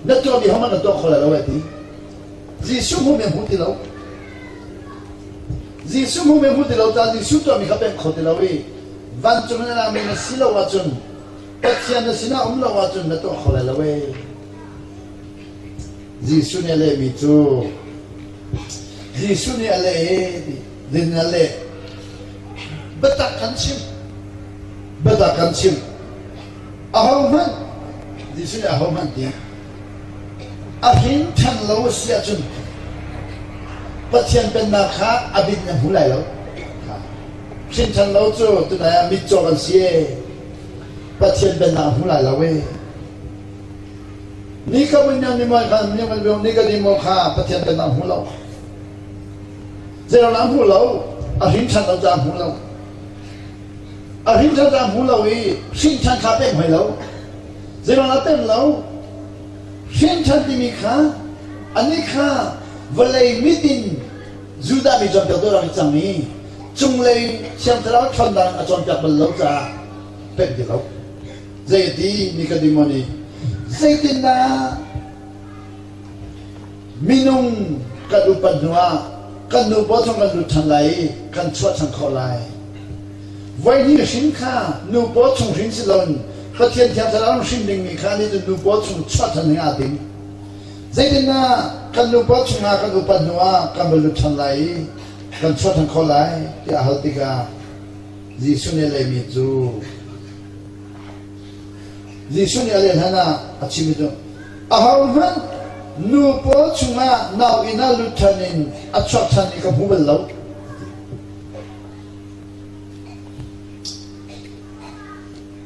na tuahmi hohmanh an tuah kho lai lo ti Jesuh hmu me hmu ti lo Jesuh hmu me hmu ti lo ta Jesuh tuahmi kha peng kho ti lo i Vancung na rami na si lo ahcun, Pathian na sinah um lo ahcun na tuah kho lai lo ee. Jesuh nih a lehmi cu Jesuh nih a leh ee din in a leh. Biatak kan chim. Biatak kan chim. Ahohmanh Jesuh nih ahohmanh tiah a hrin ṭhan lo a si ahcun Pathian pennak kha a bit na hmu lai lo. Hrinṭhan lo cu tunai ah mitcaw kan si ee. Pathian pennak a hmu lai lo ee. Ni ka vun niam ning khan niam kan viong ni ka dim kha Pathian pennak hmu lo. Zeirona hmu lo, a hrinṭhan lo ca hmu lo. A hrinṭhan ca hmu lo i hrinṭhan kha pem hoi lo. Zeirona pem lo. Hrinṭhan timi kha ani kha vawlei mit in Judah mi cawnpiaktu ram a cang i cunglei in thiang thlarau ṭhawnnak in a cawnpiak bal lo caah penh ti lo. Zeiti mi ka dimo ni zeitindah minung kan upat hnuah kan nu paw chung kan lut ṭhan lai i kan chuah ṭhan khawh lai. Voihnih hrin kha nu paw chung hrin si loin Pathian thiang thlarau hrin dingmi kha ni nu paw chung chuah ṭhan dingah a ding. Zeitindah kan nupa chungah kan upat hnuah kan va lut ṭhan lai i kan chuah ṭhan khawh lai tiah a hal tikah Jesuh nih a lehmi cu Jesuh nih a leh hlanah a chim i cun ahohmanh nu pawl chungah nauinn ah lut ṭhan in a chuak ṭhan i ka hmu bal lo.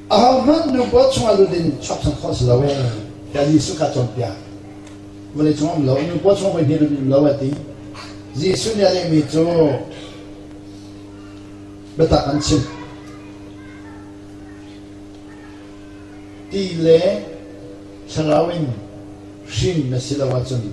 Ahohmanh nupaw chungah lut in chapchan khawh si lo ee. Tiah Jesuh kha cawnpiak. Vawlei cung um lo, nupaw chung voi hnih lut um lo a ti. Jesuh nih a lehmi cu biatak an chim. Ti le thlarau in hrin na si lo ahcun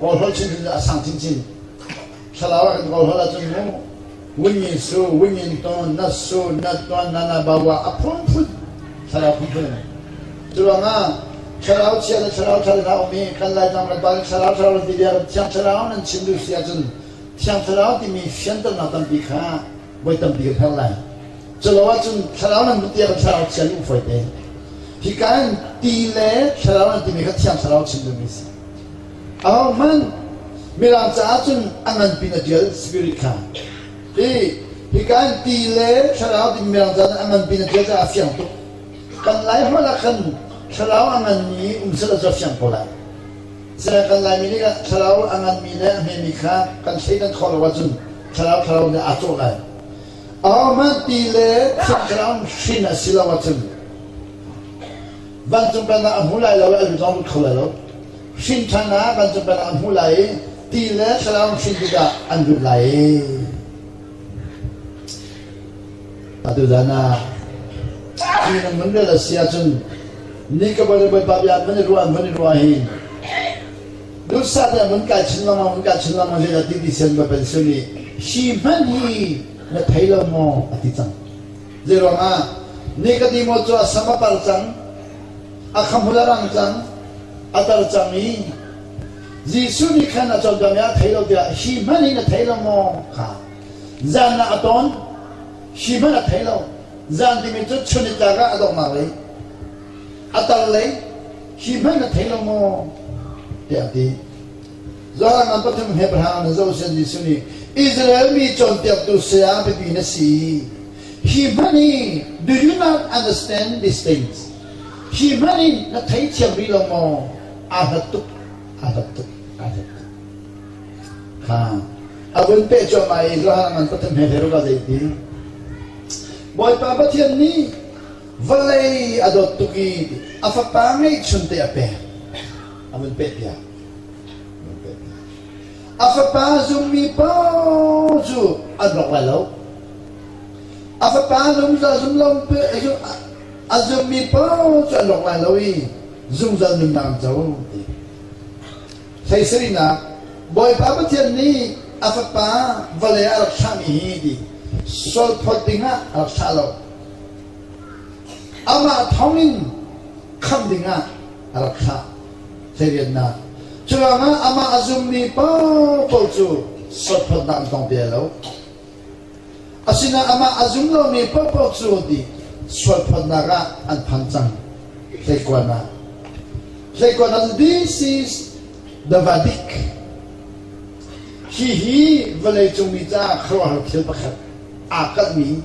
Kawl holh chin in a sang chinchin. Thlarau ah kan kawl holh ahcun mu wingin su wingin ton nat su nat ton nana bawa a phunphun thlarau phunphun in curuangah thlarau chia le thlarau thar in a um i kan laitang kan pa nih thlarau thlarau nan ti bia kan thiang thlarau nan chim duh si ahcun thiang thlarau timi fianternak tampi kha voi tampi kan herh lai Culo ahcun thlarau nan lut tiah kan thlarau chia nih fawi te. Hika in ti le thlarau nan timi kha thiang thlarau chim ding a si. Aho hmanh mirang caah cun a nganpi na dial spirit kha. Hi hika in ti le thlarau ti mirang caah cun a nganpi na dial caah a fiang tuk. Kan lai hmanh ah khan thlarau a nganmi um sal a fiang ko lai. Saya kan laimi nih thlarau a nganmi le a hmemi kha kan thleidan khawh lo ahcun thlarau thlarau nih aa cawh lai. Amen ti le thluagraun hrin a si lo ahcun vancung pennak a hmu lai lo i a lu zong lut kho lai lo. Hrin ṭhan ah vancung pennak a hmu lai i ti le thluagraun hrin tikah an lut lai. Atu zan ah hi nan nun rel a si ahcun ni ka bawi le bawipa bia van i ruah van i ruah hi duhsah tein mun kai chin lengmang mun kai chin lengmang zeidah ti ti sen mapen sun i si hmanh hi na thei lo maw a ti cang zei ruangah Nikodemo cu a sam a par cang a khamhul a rang cang a tar cang i Jesuh nih khan a cawm cang a thei lo tiah si hmanh hi na thei lo maw kha zan ah a tawn si hmanh a thei lo zan timi cu chunit tlak ah a dongmar lei a tar lei Hi hmanh na thei lo maw? Tiah ti. Zan an pathum he pahra na zoh sen Jesuh nih Israel mi cawnpiaktu saya biapi na si. He hmanh hi do you not understand these things? Hi hmanh in na thei thiam rih lo maw? Aa hlat tuk, aa hlat tuk, aa hlat tuk. Ha. A vun peh cuahmah i Johan an pathum he theiruka zei ti. Bawipa Pathian nih vawlei a dawt tuk i a fapa ngeihchun te a pek a vun peh piak a vun peh piak a fapa zummi pa cu an rawk lai lo a fapa zungzal zumlom a zummi pa cu an rawk lai lo i zungzal nunnak co ti hleiserinak bawipa pathian nih a fapa vale a rak thlah mi hi ti sual phawt ding ah a rak thlah lo Amah thawngin khamh dingah a rak thlah hleiriannak. Curuangah amah a zummi pawl cu sawtphawtnak an tong bia lo. Asinain amah a zum lomi paohpaoh cu ti sualphawtnak ah an phan cang. Hleikuan ah. Hleikuan ah this is the Vadic. Hi hi vawleicung mi caah khuaruahhar thil pakhat aa kalhmi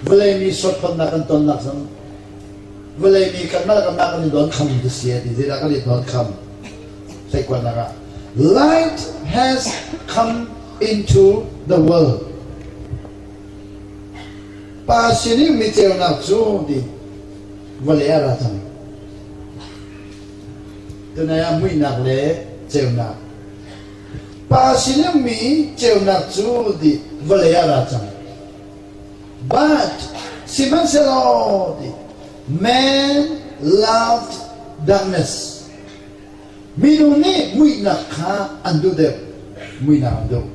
vawlei mi suatphonnak kan tonnak zong vawlei mi kan mah kan mah kan i don kham ti si ti zeidah kan i don kham hleikuannak ah light has come into the world pa sin i mi ceunak cu ti vawlei ah ra cang tunai ah muihnak le ceunak Pa sinummi ceunak cu ti vawlei ah a ra cang. But, sihmanhsehlaw ti man loved darkness. Minu nih muihnak kha an duh deuh. Muihnak an duh.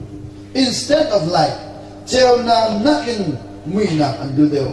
Instead of light, ceunak nakin muihnak an duh deuh.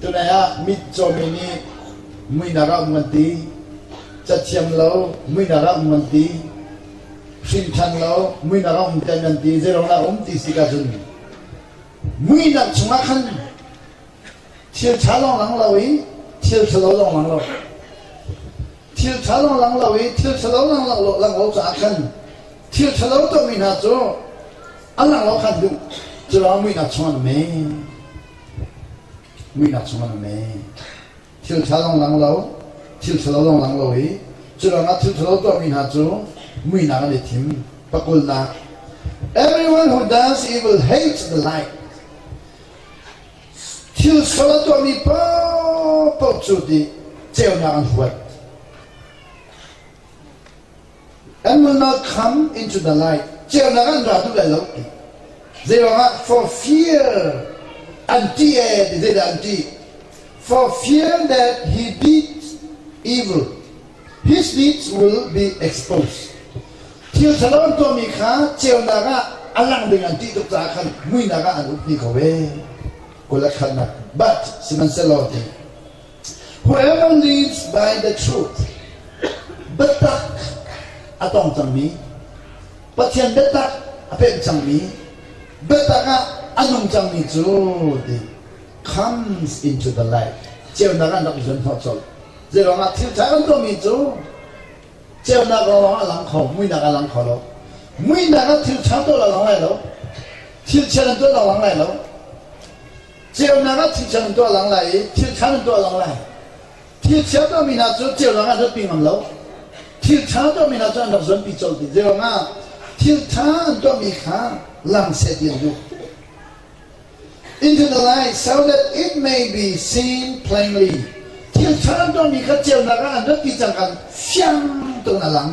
Tunai ah mitcaw mi nih muihnak ah um an ti. Cathiam lo muihnak ah um an ti. Hrinṭhan lo muihnak ah um tiah an ti. Zeiruangdah um ti si ka cun muihnak chungah khan thil ṭha lawng lang lo i thil ṭhalo lawng lang lo. Thil ṭha lawng lang lo i thil ṭhalo lang lo lang lo caah khan thil ṭhalo tuahmi hna cu an lang lo khan duh. Curuang muihnak chung an um ee. muihnak chungah an ei. Thil ṭha zong lang lo, thil ṭhalo zong lang lo i cu lawngah thil ṭhalo tuahmi hna cu muihnak an i thim. Pakulnak, Everyone who does evil hates the light. Thil sal a tuahmi paohpaoh cu ti ceunak an huat. An nunnak kham in cun a lai, ceunak ah an ra duh lai lo ti. Zeiruangah for fear an ṭih ee ti zeidah an ṭih? For fear that he deeds evil, his deeds will be exposed. Thil ṭhalo an tuahmi kha ceunak ah a lang ding an ṭih tuk caah khan muinak ah an ummi ko ee. Kul a khannak. But, sihmanhsehlaw ti Whoever lives by the truth. Biatak a tong cangmi, Pathian biatak a pek cangmi, biatak ah a nung cangmi cu the comes into the light. Ceunak an rak i zuan hnawh colh. Zei ruangah thil ṭha an tuahmi cu ceunak lawng a lang kho, muihnak a lang kho lo. Muihnak ah thil ṭha tuah lawng lai lo. Thil chiat an tuah lawng lai lo. Ceunak ah thil thiang an tuah lang lai i thil ṭha an tuah lang lai. Thil chia tuahmi hna cu ceunak ah hlatpi ngam lo. Thil ṭha tuahmi hna cu an rak zuanpi colh dih. Zeirongah thil ṭha an tuahmi kha lang seh ti an duh. Internalized so that it may be seen plainly. Thil ṭha an tuahmi kha ceunak ah an rat ti cangkan fiang tuin a lang.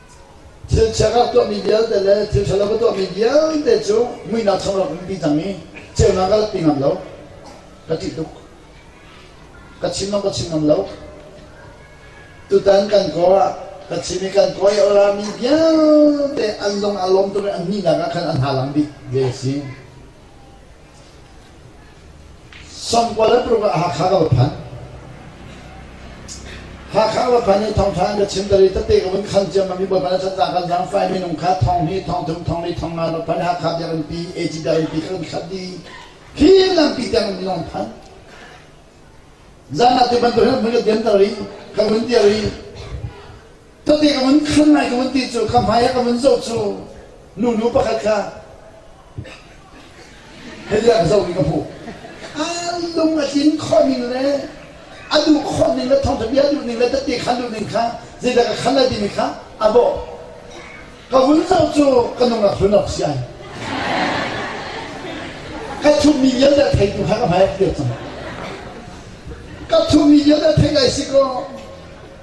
Thil chiakha a tuahmi vialte le thil ṭhalo ka tuahmi vialte cu muihnak chung ram umpi cang i ceunak ka latpi ngam lo. Ka ṭih tuk. Ka chim lo, ka chim ngam lo. Tutan kan kaw ah ka chim i kan kaw i orami vialte an lung aa lawm tuk i an hnihnak ah khan an halang bik ve a si. Sangkual an puruk ah Hakha ka va phan. Hakha ka va phan i thawngṭha an ka chim dal i tete ka vun khan ciammam i baban khan ca kan zaang fai minung kha thong hi thongthum thong li thong nga va phan i Hakha biakinn pi AG biakinn pi ka kan khat i hi lampi tiang in lawng phan. Zan ah ti bantuk hin ka diam dal i ka vun dir i Tadi ka vun khan lai ka vun ti cu ka hmai ka vun zoh cu nunu pakhat kha hei an zoh mi ka hmuh an lung a tlin khawh ning le a duh khawh ning le thawngtha bia duh ning le tati khan duh ning kha zeidah ka khan lai timi kha a bawh ka vun zoh cu ka nungak hlun awk si ai ka thuhmi vialte thei tu kha ka hmai a kir cang ka thuhmi vialte thei lai si kaw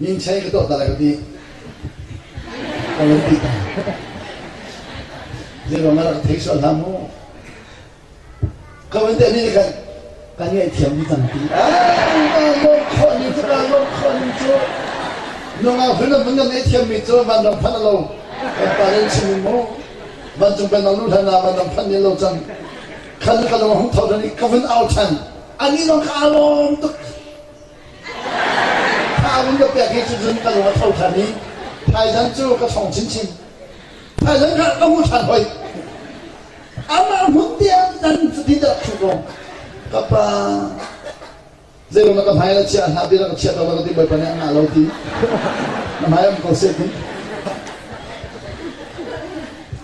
Minchei ka tuah ta lai ka ti. Ka van ti ta. Zeiruang ah rak thei sual hlah mu. Ka van ti nih kan kan ngaihthiam mi cang ti. Kaa lawm khawh ni cu kaa lawm khawh ni cu. Nungak hun mun na ngaihthiam mi cu van dang phan lo. Kan pa den chim in mu. Van cung kan nang nu hlan ah van dang phan ne lo cang. Khan ka lung hung thau dan i ka vun au than. An ih zong ka lawm tuk. Tha un ka pek hi cu cun ka lung a tho than i thaizan cu ka thong chinchin. Thaizan kha ka hmu than hoi. Amah hmun tiang nan fatin rak thu ko. Ka pa zeilam na ka hmai na chiah hna tiin na ka chiat lo na ka ti bawipa nih an ngah lo ti na hmai am ko se ti.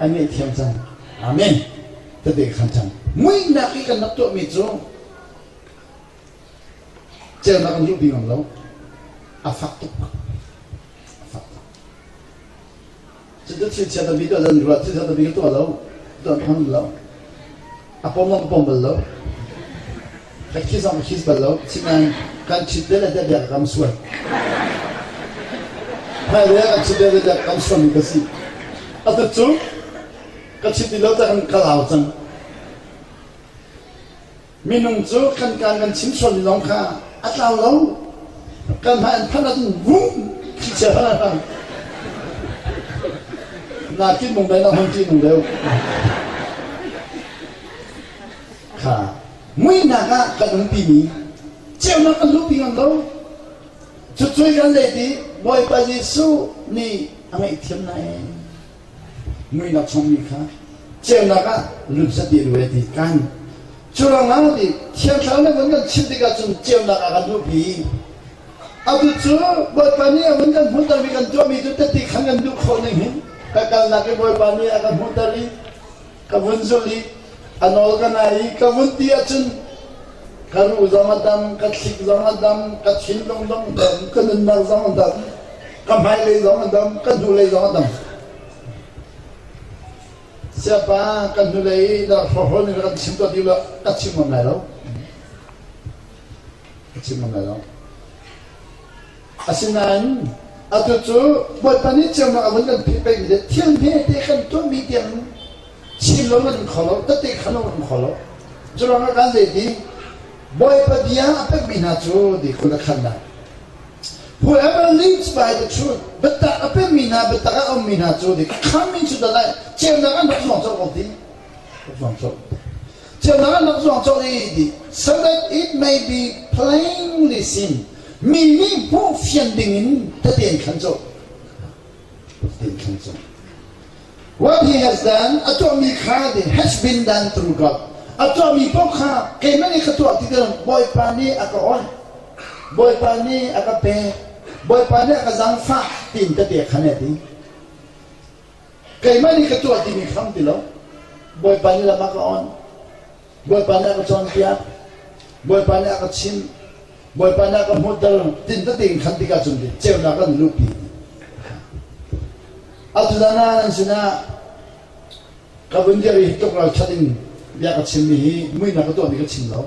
ai ngaihthiam cang amen ka te khan cang muihnak i kan rak tuahmi cu celnak an duh ti ngam lo a fak tuk a fak tuk cucu thil chiata bik tuah zan ruat thil chiata bik tuah lo tuah hmang lo a pom a pom bal lo. Ka khi zong a khis bal lo. Sinain kan chit dele dede ka kam suan. Hai le kan chit dele dede kam suan ka si. A tat cu ka chit ti lo ta kan kalau cang. Minung cu kan kan kan chim sual ni lawng kha a tlau lo. Kanmah in phan ahcun vum khi Nakin mung dai na hon ti nung deu. Kha muihnak ah kan umpi mi ceunak kan luhpi ngam lo. Cucui kan let i Bawipa Jesuh nih a ngaihthiam na em. Muihnak chungmi kha ceunak ah lut zat dih ve ti kan. Curangah ti thiang thlarau na vun kan chim tikah cun ceunak ah kan duhpi. Atu cu Bawipa nih a vun kan hmuhter mi kan tuahmi cu tati khan kan duh khawh ning hin ka kalnak i Bawipa nih a kan hmuhter i ka vun zulh i a nawl ka nai i ka vun ti ahcun ka ruh zong a dam ka thlik zong a dam ka thinlung zong a dam ka nunnak zong a dam ka hmailei zong a dam ka hnulei zong a dam siapa kan hnulei dah hrohol ni kan chim to ti lo ka chim ngam lai lo ka chim ngam lai lo Asinain atu cu Bawipa nih ceunak a vun kan pheh pengmi le thil hmete kan tuahmi tiang chim lo an kho lo, tete khan lo an kho lo. Curang ah zeiti Bawipa bia a pekmi hna cu dikhul a khannak. Whoever lives by the truth, biatak a pemmi hna, biatak a ummi hna cu, di khammi cu dal lai, ceunak an rak zuang colh awk ding, rak zuang colh. Cunak na zuang cawk i di. So that it may be plainly seen. Mi nih hmuh fian ding in taten khan cu. Taten khan cu. What he has done, a tuahmi kha the has been done through God. A tuahmi paoh kha keimah nih ka tuah ti tilang Bawipa nih a ka oih. Bawipa nih a ka pek. Bawipa nih a ka zangfah tiin ka te khan a ti. Keimah nih ka tuah timi hram ti lo. Bawipa nih lam a ka on. Bawipa nih a ka cawnpiak. Bawipa nih a ka chim. Bawipa nih a ka hmuhter. Tin tete in khan tikah cun ceunak an luhpi. Atu dan ah nan sinah ka vun dir i tuk ralthat in bia ka chimmi hi muihnak ka tuahmi ka chim lo.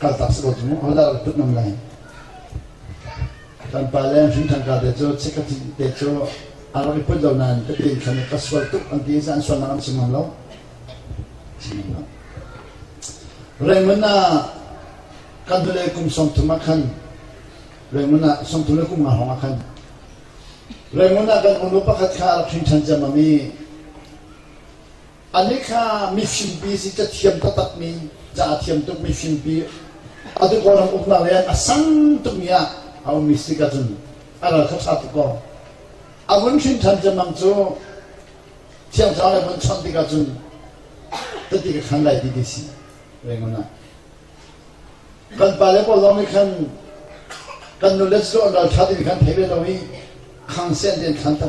Kaltak si ko cu mu. Hodah dah ṭut ngam lai? Kan pale an hrin ṭhangka te cu chikkhat te cu a rak i put lo nain ka tiin khan ka sual tuk an ti i an sualnak an si ngam lo. Si ngam lo. Rengun ah kan hnulei kum sawmthum ah khan Rengun ah sawmthum le kum nga hrawng ah khan Rengun ah kan unu pakhat kha a rak hrin ṭhan ciammam i Anih kha mifingpi si cathiam taktakmi, ca a thiam tukmi fingpi, atu kawlam uknak le a sang tukmi ah a ummi si ka cun a ral kha ṭha tuk kaw a vun hrinṭhan cemang cu thiangthlarau le vun chawnh tikah cun cuti ka khan lai ti ti si rengon ah kan pa le pawl lawng nih khan kan nu le cu an ral ṭha ti nih khan thei ve lo i khang sen tein khan ta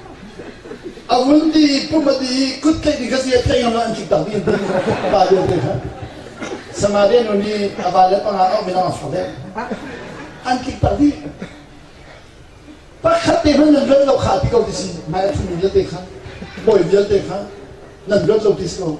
A hun ti i pum a ti i kut tlaih ding ka si a tlaih ngam an tlik tak ding pa vial te kha. Sama de nun hi a va le panga a min ang so de. An tlik tak ding. Pakhat te hman nan rat lo kha ti ko ti si. Mai a thun vial te kha. Boi vial te kha. Nan rat lo ti si ko.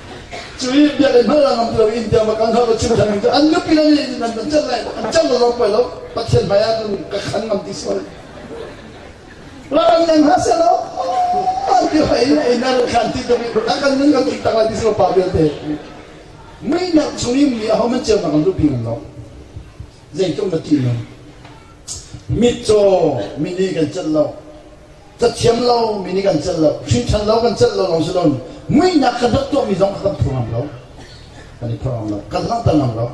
Cui biakinn hal ngam ti lo in tiang bakang hal lo chim thang an nupi la ni nan an chan lai an chan lo pai lo pathian hmai ah nun ka khan ngam ti so Laran yang ha se lo an ti pai ne inan khan ti to bi ta kan nan kan tak lai ti so pa belte mui nak chung in mi a homan cheu na kan lu ping lo zeitum na ti no Mitcaw mi nih kan celh lo, cathiam lo mi nih kan celh lo, hrinṭhan lo kan celh lo lawng si loin muihnak kan rak tuahmi zong a kan phur ngam lo. Kan i phur ngam lo, kan langhter ngam lo.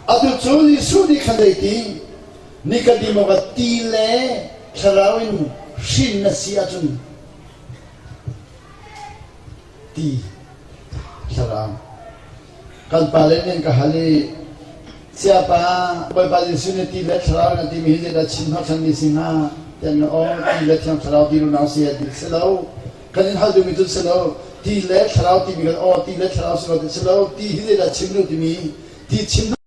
Atu cu Jesuh nih khan zei ti? Ni ka dim awk ah ti le thlarau in hrin na si ahcun ti, thlarau, Kan pale nih an ka hal i, Siapa Bawipa Jesuh nih ti le thlarau in a timi hi zeidah chim hnawhchanmi a si hnga? Ti an ka aw. Ti le thiang thlarau ti runau a si a ti si lo. Kan in hal duhmi cu si lo. Ti le thlarau timi kan aw, ti le thlarau si lo ti si lo. Ti hi zeidah chim nu timi ti chim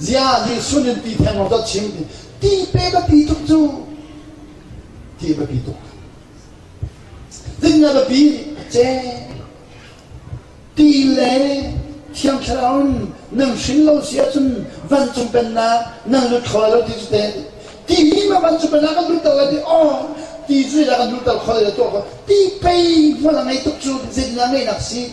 ziah nih sununpi theng ram dot chim ti pe biapi tuk cu ti biapi tuk ding a biapi che ti le thiang thlarau in nan hrin lo sia cun vancung pennak nan lut kho lo ti cu te ti ma vancung pennak kan lutter lai ti oh ti cu kan lutter kho lai tuah ti pei hmual ngei tuk cu zinna ngeinak si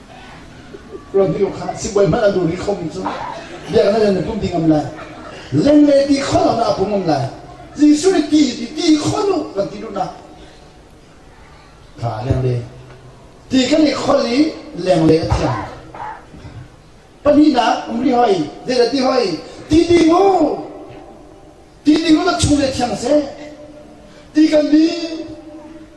radio kha sibawi hmanh a dur i khomi cu biaknak in na tum ding ngam lai lengle ti kho lo na apung ngam lai jesuh nih ti ti ti kho nu kan ti duhnak kha lengle ti kan i khol i lengle a thiang pahnih nak um li hoi zeidah ti hoi ti ti mu Ti ding cu chung le thiang seh. Ti kan din,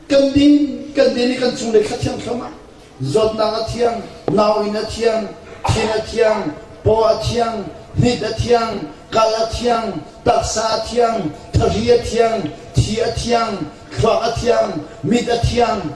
kan din, kan din i kan chung le thla thiang thluam ah zawtnak a thiang, nau in a thiang, thin a thiang, paw a thiang, hnit a thiang, kal a thiang, taksa a thiang, thari a thiang, thi a thiang, thluak a thiang, mit a thiang,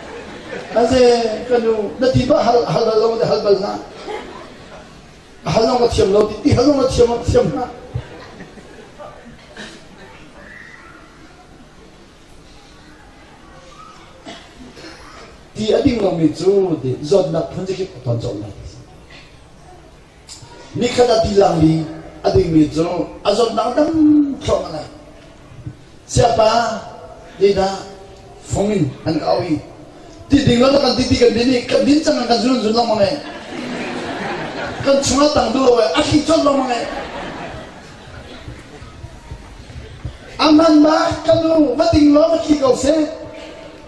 A ze ka nu na ti ma hal hal lo le hal bal na hal lo na thiam lo ti ti hal lo na thiam thiam na ti a ding lomi cu zawtnak phun cikip a ton cawlh lai Nikhat ah tilang li a dingmi cu a zawtnak dam thluam a lang. Siapa nih dah fung in an ka auh i ti ding lo dah kan ti ti kan din i kan din cang kan zun zun lengmang e. Kan chungah tang duh lo e a thli cawt lengmang e. A man ma ka nu va ting law va thli ko seh.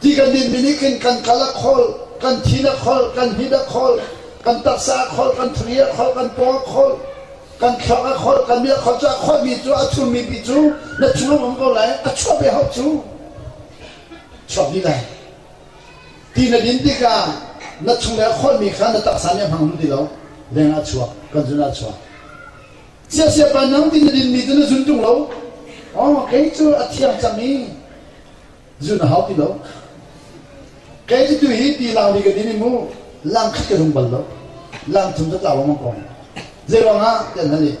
Ti kan dinmi nih khin kan kal a kholh, kan thin a kholh, kan hit a kholh, kan taksa a kholh, kan thri a kholh, kan paw a kholh, kan thluak a kholh, kan mi a kholh cu a kholhmi cu a chummi pi cu na thinlung um ko lai, a chuahmi hau cu chuak dih lai. Ti na din tikah na chungle a kholhmi kha na taksa nih a hmang hlun ti lo. Lengah a chuak, kan zunah a chuak. Siasia pa nang ti na dinmi cu na zun tung lo. Oh, kei cu a thiang cang i zulh na hau ti lo. Kei cu tu hi ti langmi ka din i mu langkhat ka zung bal lo. Lang chung cu tlau lengmang ko. Zei ruangah tiah nan nih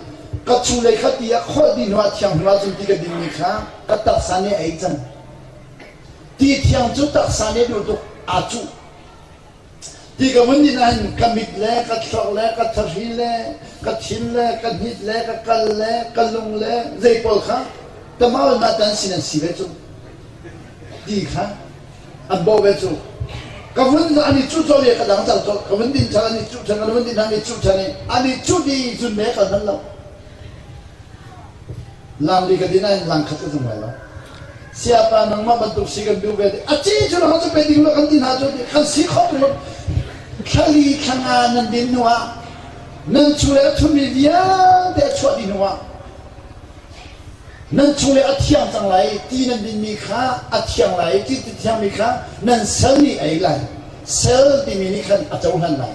ka chung lei kha ti a kholh dih hnuah thiang hnu ahcun ti ka dingmi kha ka taksa nih a ei cang. Ti thiang cu taksa nih a duh tuk aa cuh. Ti ka hmun nih nahin ka mit le ka thlorh le ka thahri le ka thin le ka hnit le ka kal le ka lung le zei pawl kha tamar ma tan sin an si ve cu ti kha an bawh ve cu ka vun an i cuh cawlh i ka dang cang cawlh ka vun din chang an i cuh chang an vun din chang i cuh chang i an i cuh di zun me ka hman lo Laam li ka din ah hin lang khat ka zum lai lo. Siapa nangmah bantuk si kan duh ve ti. A ci cu lo cu pe ding lo kan ti hna cu ti. Kan si khawh ko lo. Thlali thlanga nan din hnu ah nan chule a thumi vialte a chuah dih hnu ah nan chule a thiang cang lai ti nan dinmi kha a thiang lai ti ti thiangmi kha nan sal nih a ei lai sal timi nih khan a cohlan lai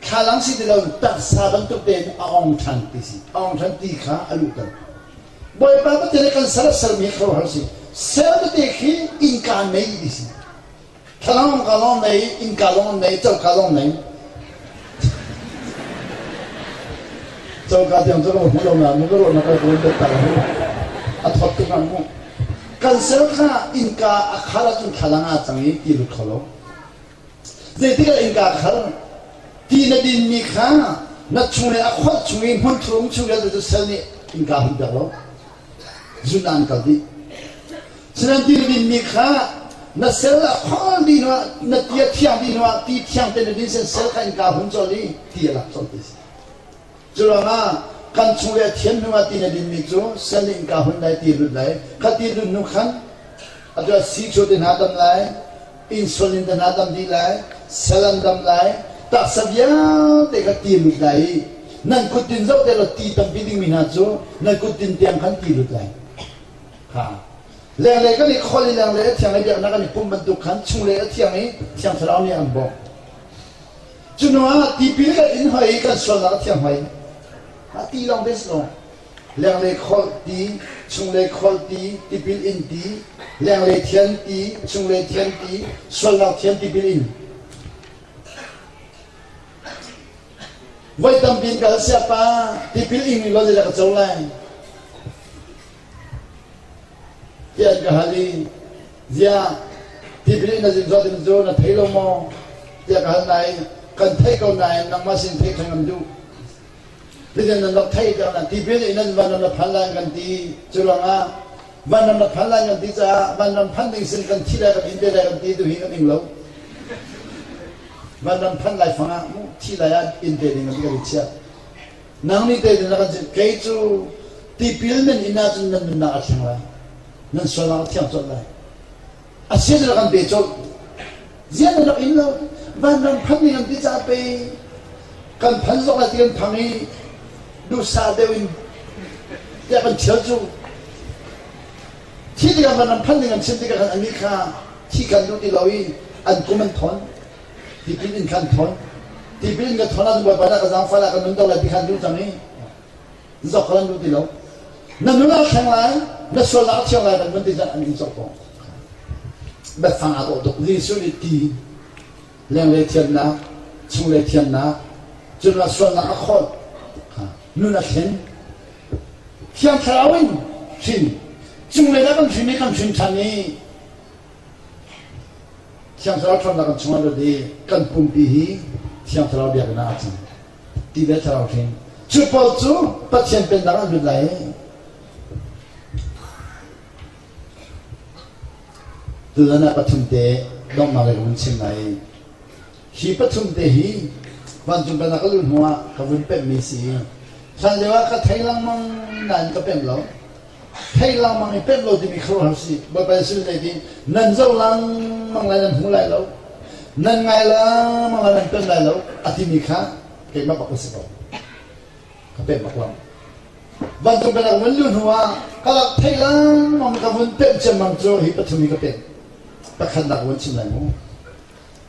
Thlalang si ti loin taksa bantuk tein a ong ṭhan ti si. A ong ṭhan ti kha a luhter. Bawipa Pathian nih kan sal a salmi kha hal si. Sel tete khi innka nei ti si. Thlalangawng ka lawng nei, innka lawng nei, choka lawng nei. Choka tiang cu ka hmu lo nain ka ruah na kal ko bet ta mu. A thawt tuk nain mu. Kan sel kha innka a khar ahcun thlalang a cang i ti lut kho lo. Zeitikah innka ka hal? Ti na dinmi kha na chunglei a kholh chung i hmunthlum chung vialte cu sel nih innka hunter law zun ah an kal dih. Sihnan ti na dinmi kha na sel a kholh dih hnuah na ti a thiang dih hnuah ti thiang te na din seh sel kha innka hun cawn i ti a lak cawn ti a si. Curuangah kan chung le thian hnu ah ti na dinmi cu sen le innka hun dai ti lut lai khati lut nu khan atu sikso te hna dam lai insulin te hna dam dih lai selan dam lai taksa vialte kha ti lut lai i nan kutin zoh te law ti tampi dingmi hna cu nan kutin tiang khan ti lut lai ha lenglei kan i khol i lenglei a thiang i biaknak kan i pum bantuk khan chung le a thiang i thiang thlarau nih an bawk Cuhnu ah tipil kan in hoi i kan sualnak a thiang hoi. A ti lawng bes lo. Lenglei kholh ti, chunglei kholh ti, tipil in ti, lenglei thian ti, chunglei thian ti, sualnak thian tipil in. Voi tampi in ka hal siapa, tipil in in lawlh le ka co lai. Tiah an ka hal i, Ziah, ti ka nih na zin zuat in cu na thei lo maw? Tiah ka hal nain, kan theih ko nain nangmah sin theih ṭhan kan duh. Titin nan rak theih tiang na tipil in nan vanram na phan lai an kan ti. Cu ruangah vanram na phan lai an kan ti caah vanram phan ding sin kan thi lai kan in te lai kan ti tuhi kan ing lo. Vanram phan lai fangah mu thi lai ah in te ding kan ti kan i chiah. Nang nih pei na kan chimh, kei cu tipil men in ahcun nan nunnak a thleng lai, nan sualnak a thiang colh lai. A si na kan pe colh. Zian na rak in lo. Vanram phan ni kan ti caah pei kan phan zok lai ti kan phang i duhsah deuh in tiah kan thial cu. Khi tikah vanram phan ni kan chim tikah khan anih kha thi kan duh ti lo i an kum an thawn. Tikin in khan thawn. Tipil in ka thawn ahcun Bawipa nih ka zaang fal ah ka nun deuh lai ti khan duh cang i zok ka nan duh ti lo. Na nun a thleng lai, na sualnak a thiang lai kan ti an in zok ko. Biafang a dawh tuk. Jesuh nih ti lenglei thiannak, chunglei thiannak, cunah sualnak a khawl, nun a thlen. Thiang Thlarau in hrin, cunglei dah kan hrin i kan hrin ṭhan i Thiang Thlarau ṭhawnnak an chungah lut i kan pumpi hi Thiang Thlarau biakinn ah a cang. Ti le Thlarau hrin. Cu pawl cu Pathian pennak an lut lai i tutan ah pathum te donghnak lei ka vun chim lai i hi pathum te hi vancung pennak ka luh hnuah ka vun pemhmi si i hlan lio ah ka thei lengmang nain ka pem lo Theih lengmang i penh lo timi kha ruahhal si. Bawipa Jesuh nih hitin nan zoh lengmang lai nan hmu lai lo. Nan ngai lengmang lai nan penh lai lo a timi kha keimah bak ka si ko. Ka penh bak lam. Vancung pek kan vun luh hnu ah ka lak theih lengmang ka vun penh ciammam cu hi pathum hi ka penh. Pakhat nak vun chim lai mu.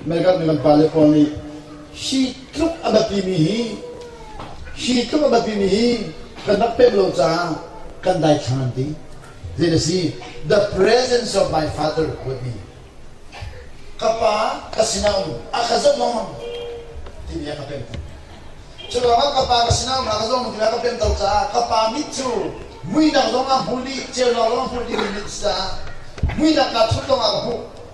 Meikat nih kan pale pawl nih hi tluk a biapimi hi hi tluk a biapimi hi kan rak pemh lo caah kan daithlang an ti. Din a si. The presence of my father would be. Ka pa ka sinam a ka zoh lengmang timi a ka pem tuk. Cu lawngah ka pa ka sinam a ka zoh lengmang timi a ka pem tuk caah ka pa mit cu muidang zong a hmuh dih, ceunak zong a hmuh dih min caah muinak kaa thut lawngah ka hmuh.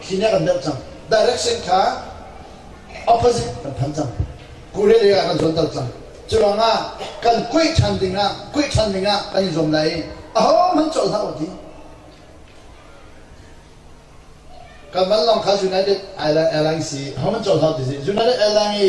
khi nih a kan doh cang. Direction kha opposite kan phan cang. Kurele ah kan zuanter cang. Curuangah kan kuih ṭhan dingah kuih ṭhan dingah kan i zuam lai i ahohmanh cawh hlah u ti. Kan van long kha United Airlines i ahohmanh cawh hlah u ti. United Airlines i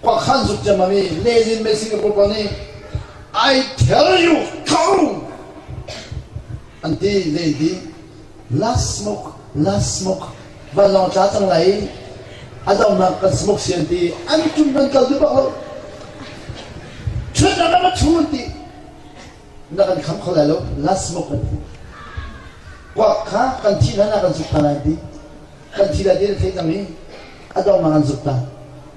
Khua khan zuk ciammam i lezin mei Singapore pa nih I tell you go an ti lady last smoke last smoke vanlawng tla cang lai a zohnak kan smoke sian ti an tum nan kal duh bak lo ṭhut na ma chun ti na kan kham kho lai lo last smoke kan ti kwa kha kan thi na na kan zuk ta lai ti kan thi la ti na thei cang i a dongnak an zuk ta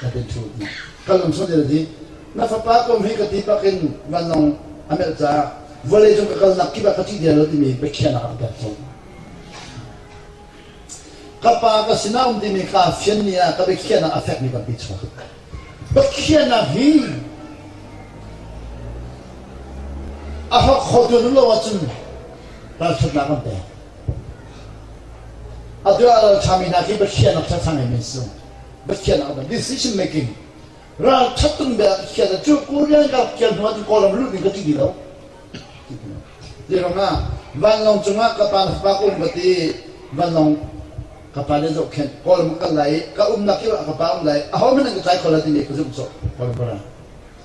ka hun thu hna. Ka lung sawt in a thi. Na fapa kom hi ka ti bak in vanlawng a melh caah vawlei cung ka kalnak kip ah ka ṭih dero timi biakhiahnak ah ka tel tawn. Ka pa ka sinum timi ka fian ni ah ka biakhiahnak a fekmi kan pi chuak. Biakhiahnak hi a hawk khotu nun lo ahcun ralṭhatnak kan pek. Atu ah lal ṭhami hna khi biakhiahnak ṭhathang in min sung. Pathian ah decision making ralṭhat tung bia khian cu Korean ralkial hnu ahcun Kawlram lut ning ka ti ti lo ti rangah vanlawng cungah ka pa na fa ka um ka ti vanlawng ka pa le zoh khen Kawlram kal lai i ka umnak kio ah ka pa um lai a ho hmanh an ka tlai kho la timi ka zumh sawh Kawlram para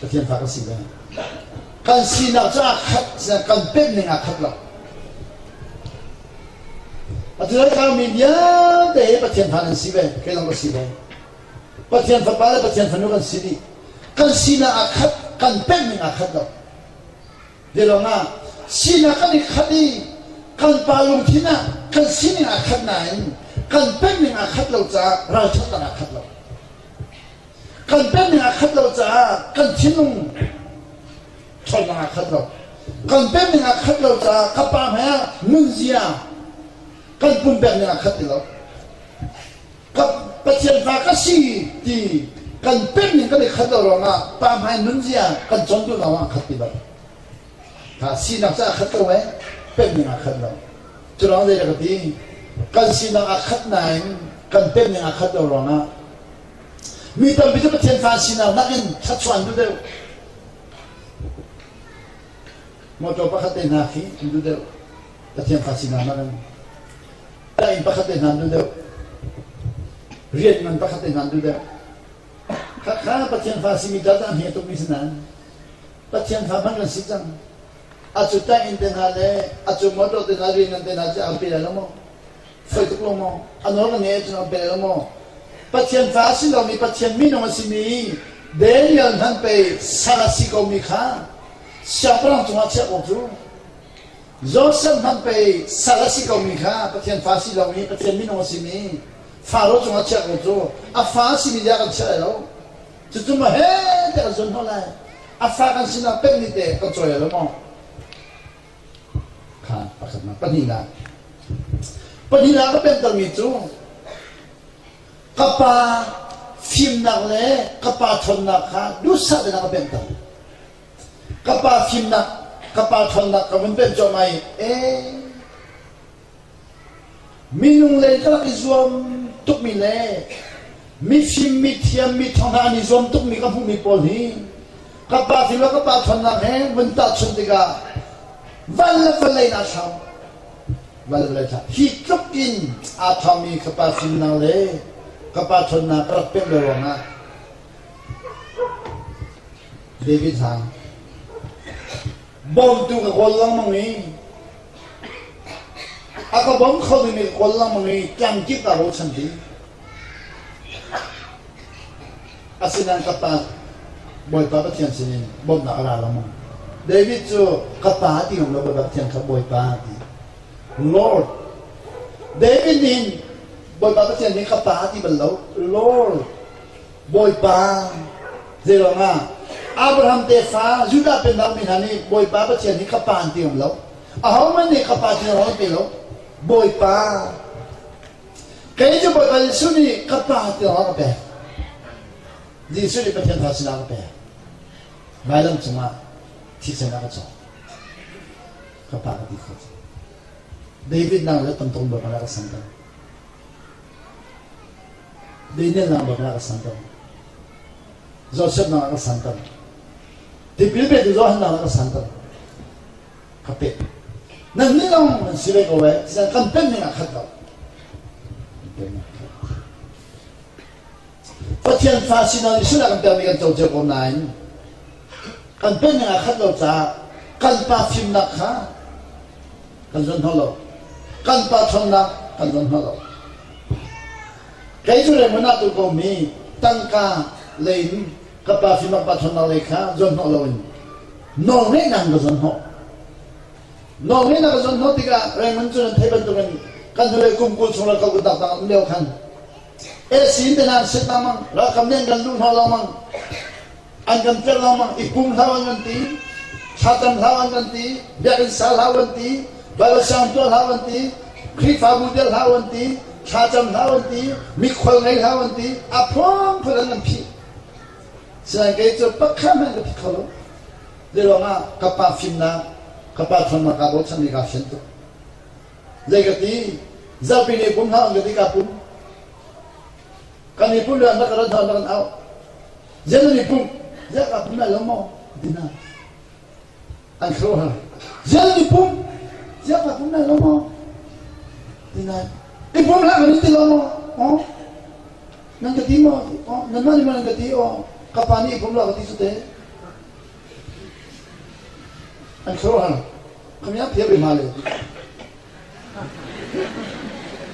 Pathian fa kan si ve. Kan sinak cu aa khat, kan pekning aa khat lo. Pathian thlangmi vialte Pathian fa nan si ve, kei zong ka si ve. Pathian fapa le Pathian fanu kan si dih. Kan sinak aa khat, kan pekning aa khat lo. Bialong ah, sinak kan i khat i kan pa lungthin ah kan sining aa khat nain kan pekning aa khat lo caah ralṭhatnak aa khat lo. kan penning a khat lo caah kan thinlung ṭhawnnak a khat lo kan penning a khat lo caah ka pa hmai ah nunzia kan pumpekning a khat ti lo ka pathian fa ka si ti kan penning kan i khat lo ruangah pa hmai nunzia kan cawn duh lo ah khat ti lo ha sinak caah khat lo e penning a khat lo cu lawng zeidah ka ti kan sinak a khat nain kan penning a khat lo ruangah Mi tampi cu Pathian fa sinak nakin thluachuah an duh deuh. Mawṭaw pakhat te hna khi an duh deuh. Pathian fa sinak nakin. Inn pakhat te hna an duh deuh. Rian ngan pakhat te hna an duh deuh. Khakha Pathian fa simi ta cang hi a tukmi si nain Pathian fa hman kan si cang. A cu tang inn te hna le a cu mawṭaw te hna rian ngan te hna cu aa pe lai lo maw? Fai tuk lo maw? A nawl na ngei ahcun a bel lo maw? Pathian fa a si lomi, Pathian minung a simi Daniel hmanh pei sal a si komi kha siangpahrang cungah chiah ko cu. Joseph hmanh pei sal a si komi kha Pathian fa si lomi, Pathian minung a simi Faro cungah chiah ko cu. A fa a simi tiah kan chiah lai lo. Cucu maw he te kan zuan hnawh lai. A fa kan sinah peh ni te kan cawi lo maw? kha pathlatnak pahnihnak pahnihnak ka pemtermi cu ka pa fimnak le ka pa ṭhawnnak kha duhsah tein a ka pemter ka pa fimnak ka pa ṭhawnnak ka vun pemh cuahmah i ee Minung lei kha rak i zuam tukmi le mifim, mithiam, miṭhawng hna an i zuam tukmi ka hmuhmi pawl hi ka pa thil le ka pa ṭhawnnak he vun tahchunh tikah van le vale in aa thlau. Van le vale aa thlau. Hi tluk in aa thawmi ka pa fimnak le ka pa ṭhawnnak ka rak pemh le ruangah David hna, bawmtu ka kawl lengmang i A ka bawm khomi nih ka kawl lengmang i tlamkip aa bochan ding. Asinain ka pa Bawipa Pathian sinin bawmhnak a ra lengmang. David cu ka pa ti ngam lo Bawipa Pathian kha Bawipa a ti. Lord. David nih hin Bawipa Pathian nih ka pa a ti bal lo. Lord. Bawipa, zeiruangah? Abraham tefa, Judah peng aumi hna nih Bawipa Pathian hi ka pa an ti ngam lo. Ahohmanh nih ka pa ti an ti lo. Bawipa, kei cu Bawipa Jesuh nih ka pa ti a ka pek. Jesuh nih Pathian fa sinah a ka pek. Vailam cungah thisen a ka cawk. Ka pa ka ti kho. David nang le tam tuk bak a rak san ko. Leinelnak bang ah a san tam. Zohsetnak ah a san tam. Tipil petu zohhannak ah a san tam. Ka pek. Nan nih lawng nan si ve ko ve. Sian kan pen ning ah khat ko. Pathian fa si nan Israel kan pekmi kan co cio ko nain kan penning a khat lo caah kan pa fimnak kha kan zoh hnawh lo kan pa ṭhawnnak kan zoh hnawh lo kei cu Rengun ah tukom mi tangka lei in ka pa fimnak pa ṭhawnnak lei kha zoh hnawh loin nawlngeihnak ka zoh hnawh nawlngeihnak ka zoh hnawh tikah Rengun cu nan theih bantukin kan hnulei kum kul chung le kal kut dak dang um lio khan AC te nan set lengmang ralkap nih an kan luh hna lengmang an kan perh lengmang i pum hlau an kan ti thlatam hlau an kan ti biakinn sa hlau an ti baibal siang tuah hlau an ti khrihfabu del hlau an ti thlacam hlau an ti mikhual ngei hlau an ti a phuang phun an kan phih sian kei cu pakhat men ka thi kho lo le ruangah ka pa fimnak ka pa thonnak ka bochan i ka fian tuk Zei ka ti? Zapi nih pum hna an ka ti kaa pum. Kan i pum le na ka rat hna na kan au. Zia nan i pum. Zia kaa pum lai lo maw? Dina. An khro ha. Zia nan i pum. Zia kaa pum lai lo maw? Dina. I pum hlah kan i ti lo maw? Oh. Nan ka ti maw? Oh. Nanmah nih maw nan ka ti? Oh. Ka pa nih i pum la ka ti su te. An sawh hna. Kami ah thiam hna le.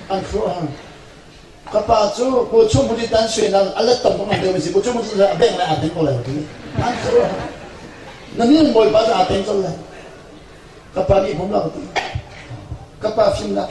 An sawh hna. Ka pa cu bu chung hmun i tan suainak a let tam bang an deu mi si. Bu chung hmun i a beng le aa teng ko lai ti. An sawh hna. Na ning bawipa cu aa teng ko lai. Ka pa nih hmumla ka ti. Ka pa fimnak.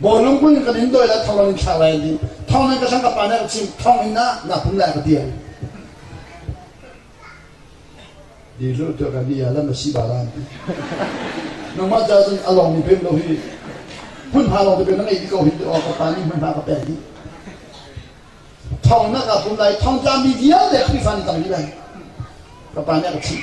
Baw lungpui in kan in doi le thong in thlak lai ding. Thong in ka thang ka pa nih a chim thong in na na pum lai ka ti ai. Di lu tu kan ia lam si ba ran. Nangmah ca cun a lawng mi pem lo hi. Hun ha lawng te pe na ngei ko hin tu o ka pa nih hman ha ka pe ni. Thong na ka pum lai thong tla mi vialte Khrihfa ni tam hi lai. Ka pa nih a ka chim.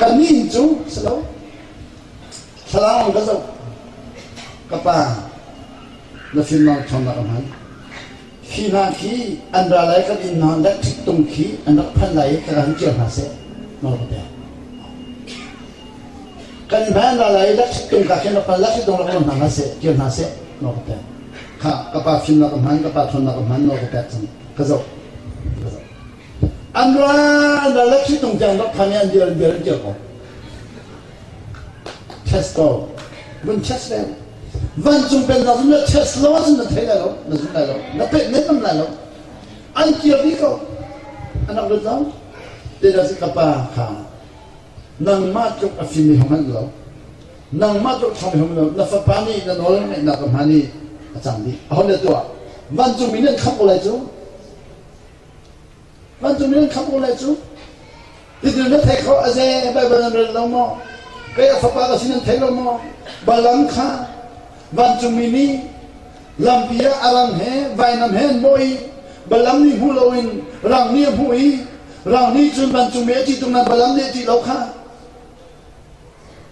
ka min cu si lo thlarau ka zoh ka pa na finmang thong na ka hman khi hna khi an ra lai kan in hna let thik tung khi an rak phan lai ka kan cia hna se no ka te kan van ra lai let thik tung ka khin rak pan let thik tung rak hna na se cia hna se no ka te kha ka pa fin na ka hman ka pa thon na ka hman no ka te cang ka zo ka zo An ra na le ṭhitung tiang rak khan i an dir an dir an kir ko. Testo. Vun test le. Vancung pen hna zun le Tesla zun na thei lai lo, na zun lai lo, na pet ne nam lai lo. An kir bi ko. Anak lut lo. Te da si ka pa kha. Nangmah tluk a fimi hong an lo. Nangmah tluk thawmi hong lo. Na fapa nih na nawl ngaihnak ka hma nih a cang dih. A hon le tuah. Vancung mi nih an khamh ko lai cu. Vancung in khamh ulaw cu hitin na theih khawh, a ze Baibal nan rel lo maw? Kei a fapa ka si nan thei lo maw? Balam kha vancungmi nih lampi ah a rang he vainam he an mawh i Balam nih hmu loin rang nih a hmuh i rang nih cun vancungmi a ṭih tung nain Balam nih a ṭih lo kha.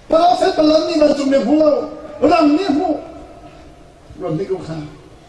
Profet Balam nih vancungmi a hmu lo, rang nih a hmuh. Ram hnikum kha.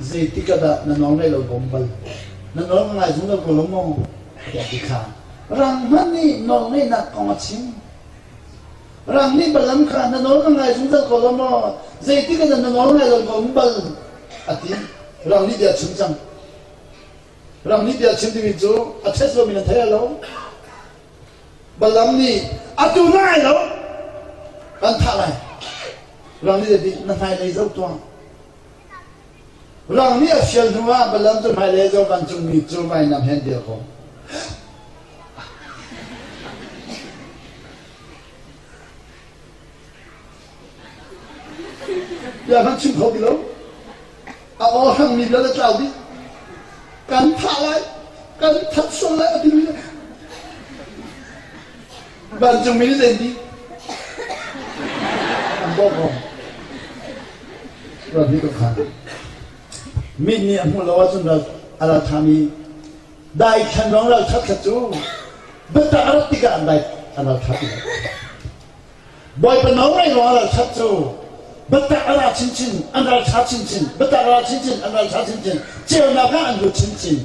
Zeitik ah dah na nawl ngaih lo bawm bal? Na nawl ngai zung lo ko lo maw? Tiah ti kha. Rang hmanh nih nawl ngaihnak kong a chim. Rang nih balam kha na nawl ka ngai zungzal ko lo maw? Zeitik ah dah na nawl ngai lo bawm bal? A ti. Rang nih bia chim cang. Rang nih bia chim timi cu a ṭhet lomi nan thei lo. Balam nih a tu na ngai lo an thah lai. Rang nih a ti na hmailei zoh tuah. Rang nih a fial hnuah Balam cu hmailei zaw vancungmi cu vainam he an dir khawh. Bia kan chim kho ti lo. A ohrangmi lal a tlau dih. Kan thah lai, kan that sual lai, a ti mi Vancung min zeidih an bawmh awk? Rat nih ka khan. Mit nih a hmuh lo ahcun ral a ra thami daithlan ruang ralṭhaṭha cu biatak a rat tikah an dai an ralṭhat lai. Bawipa nawlngaih ruang ralṭhat cu biatak a ra chinchin an ralṭha chinchin biatak a ra chinchin an ralṭha chinchin ceunak ah an lut chinchin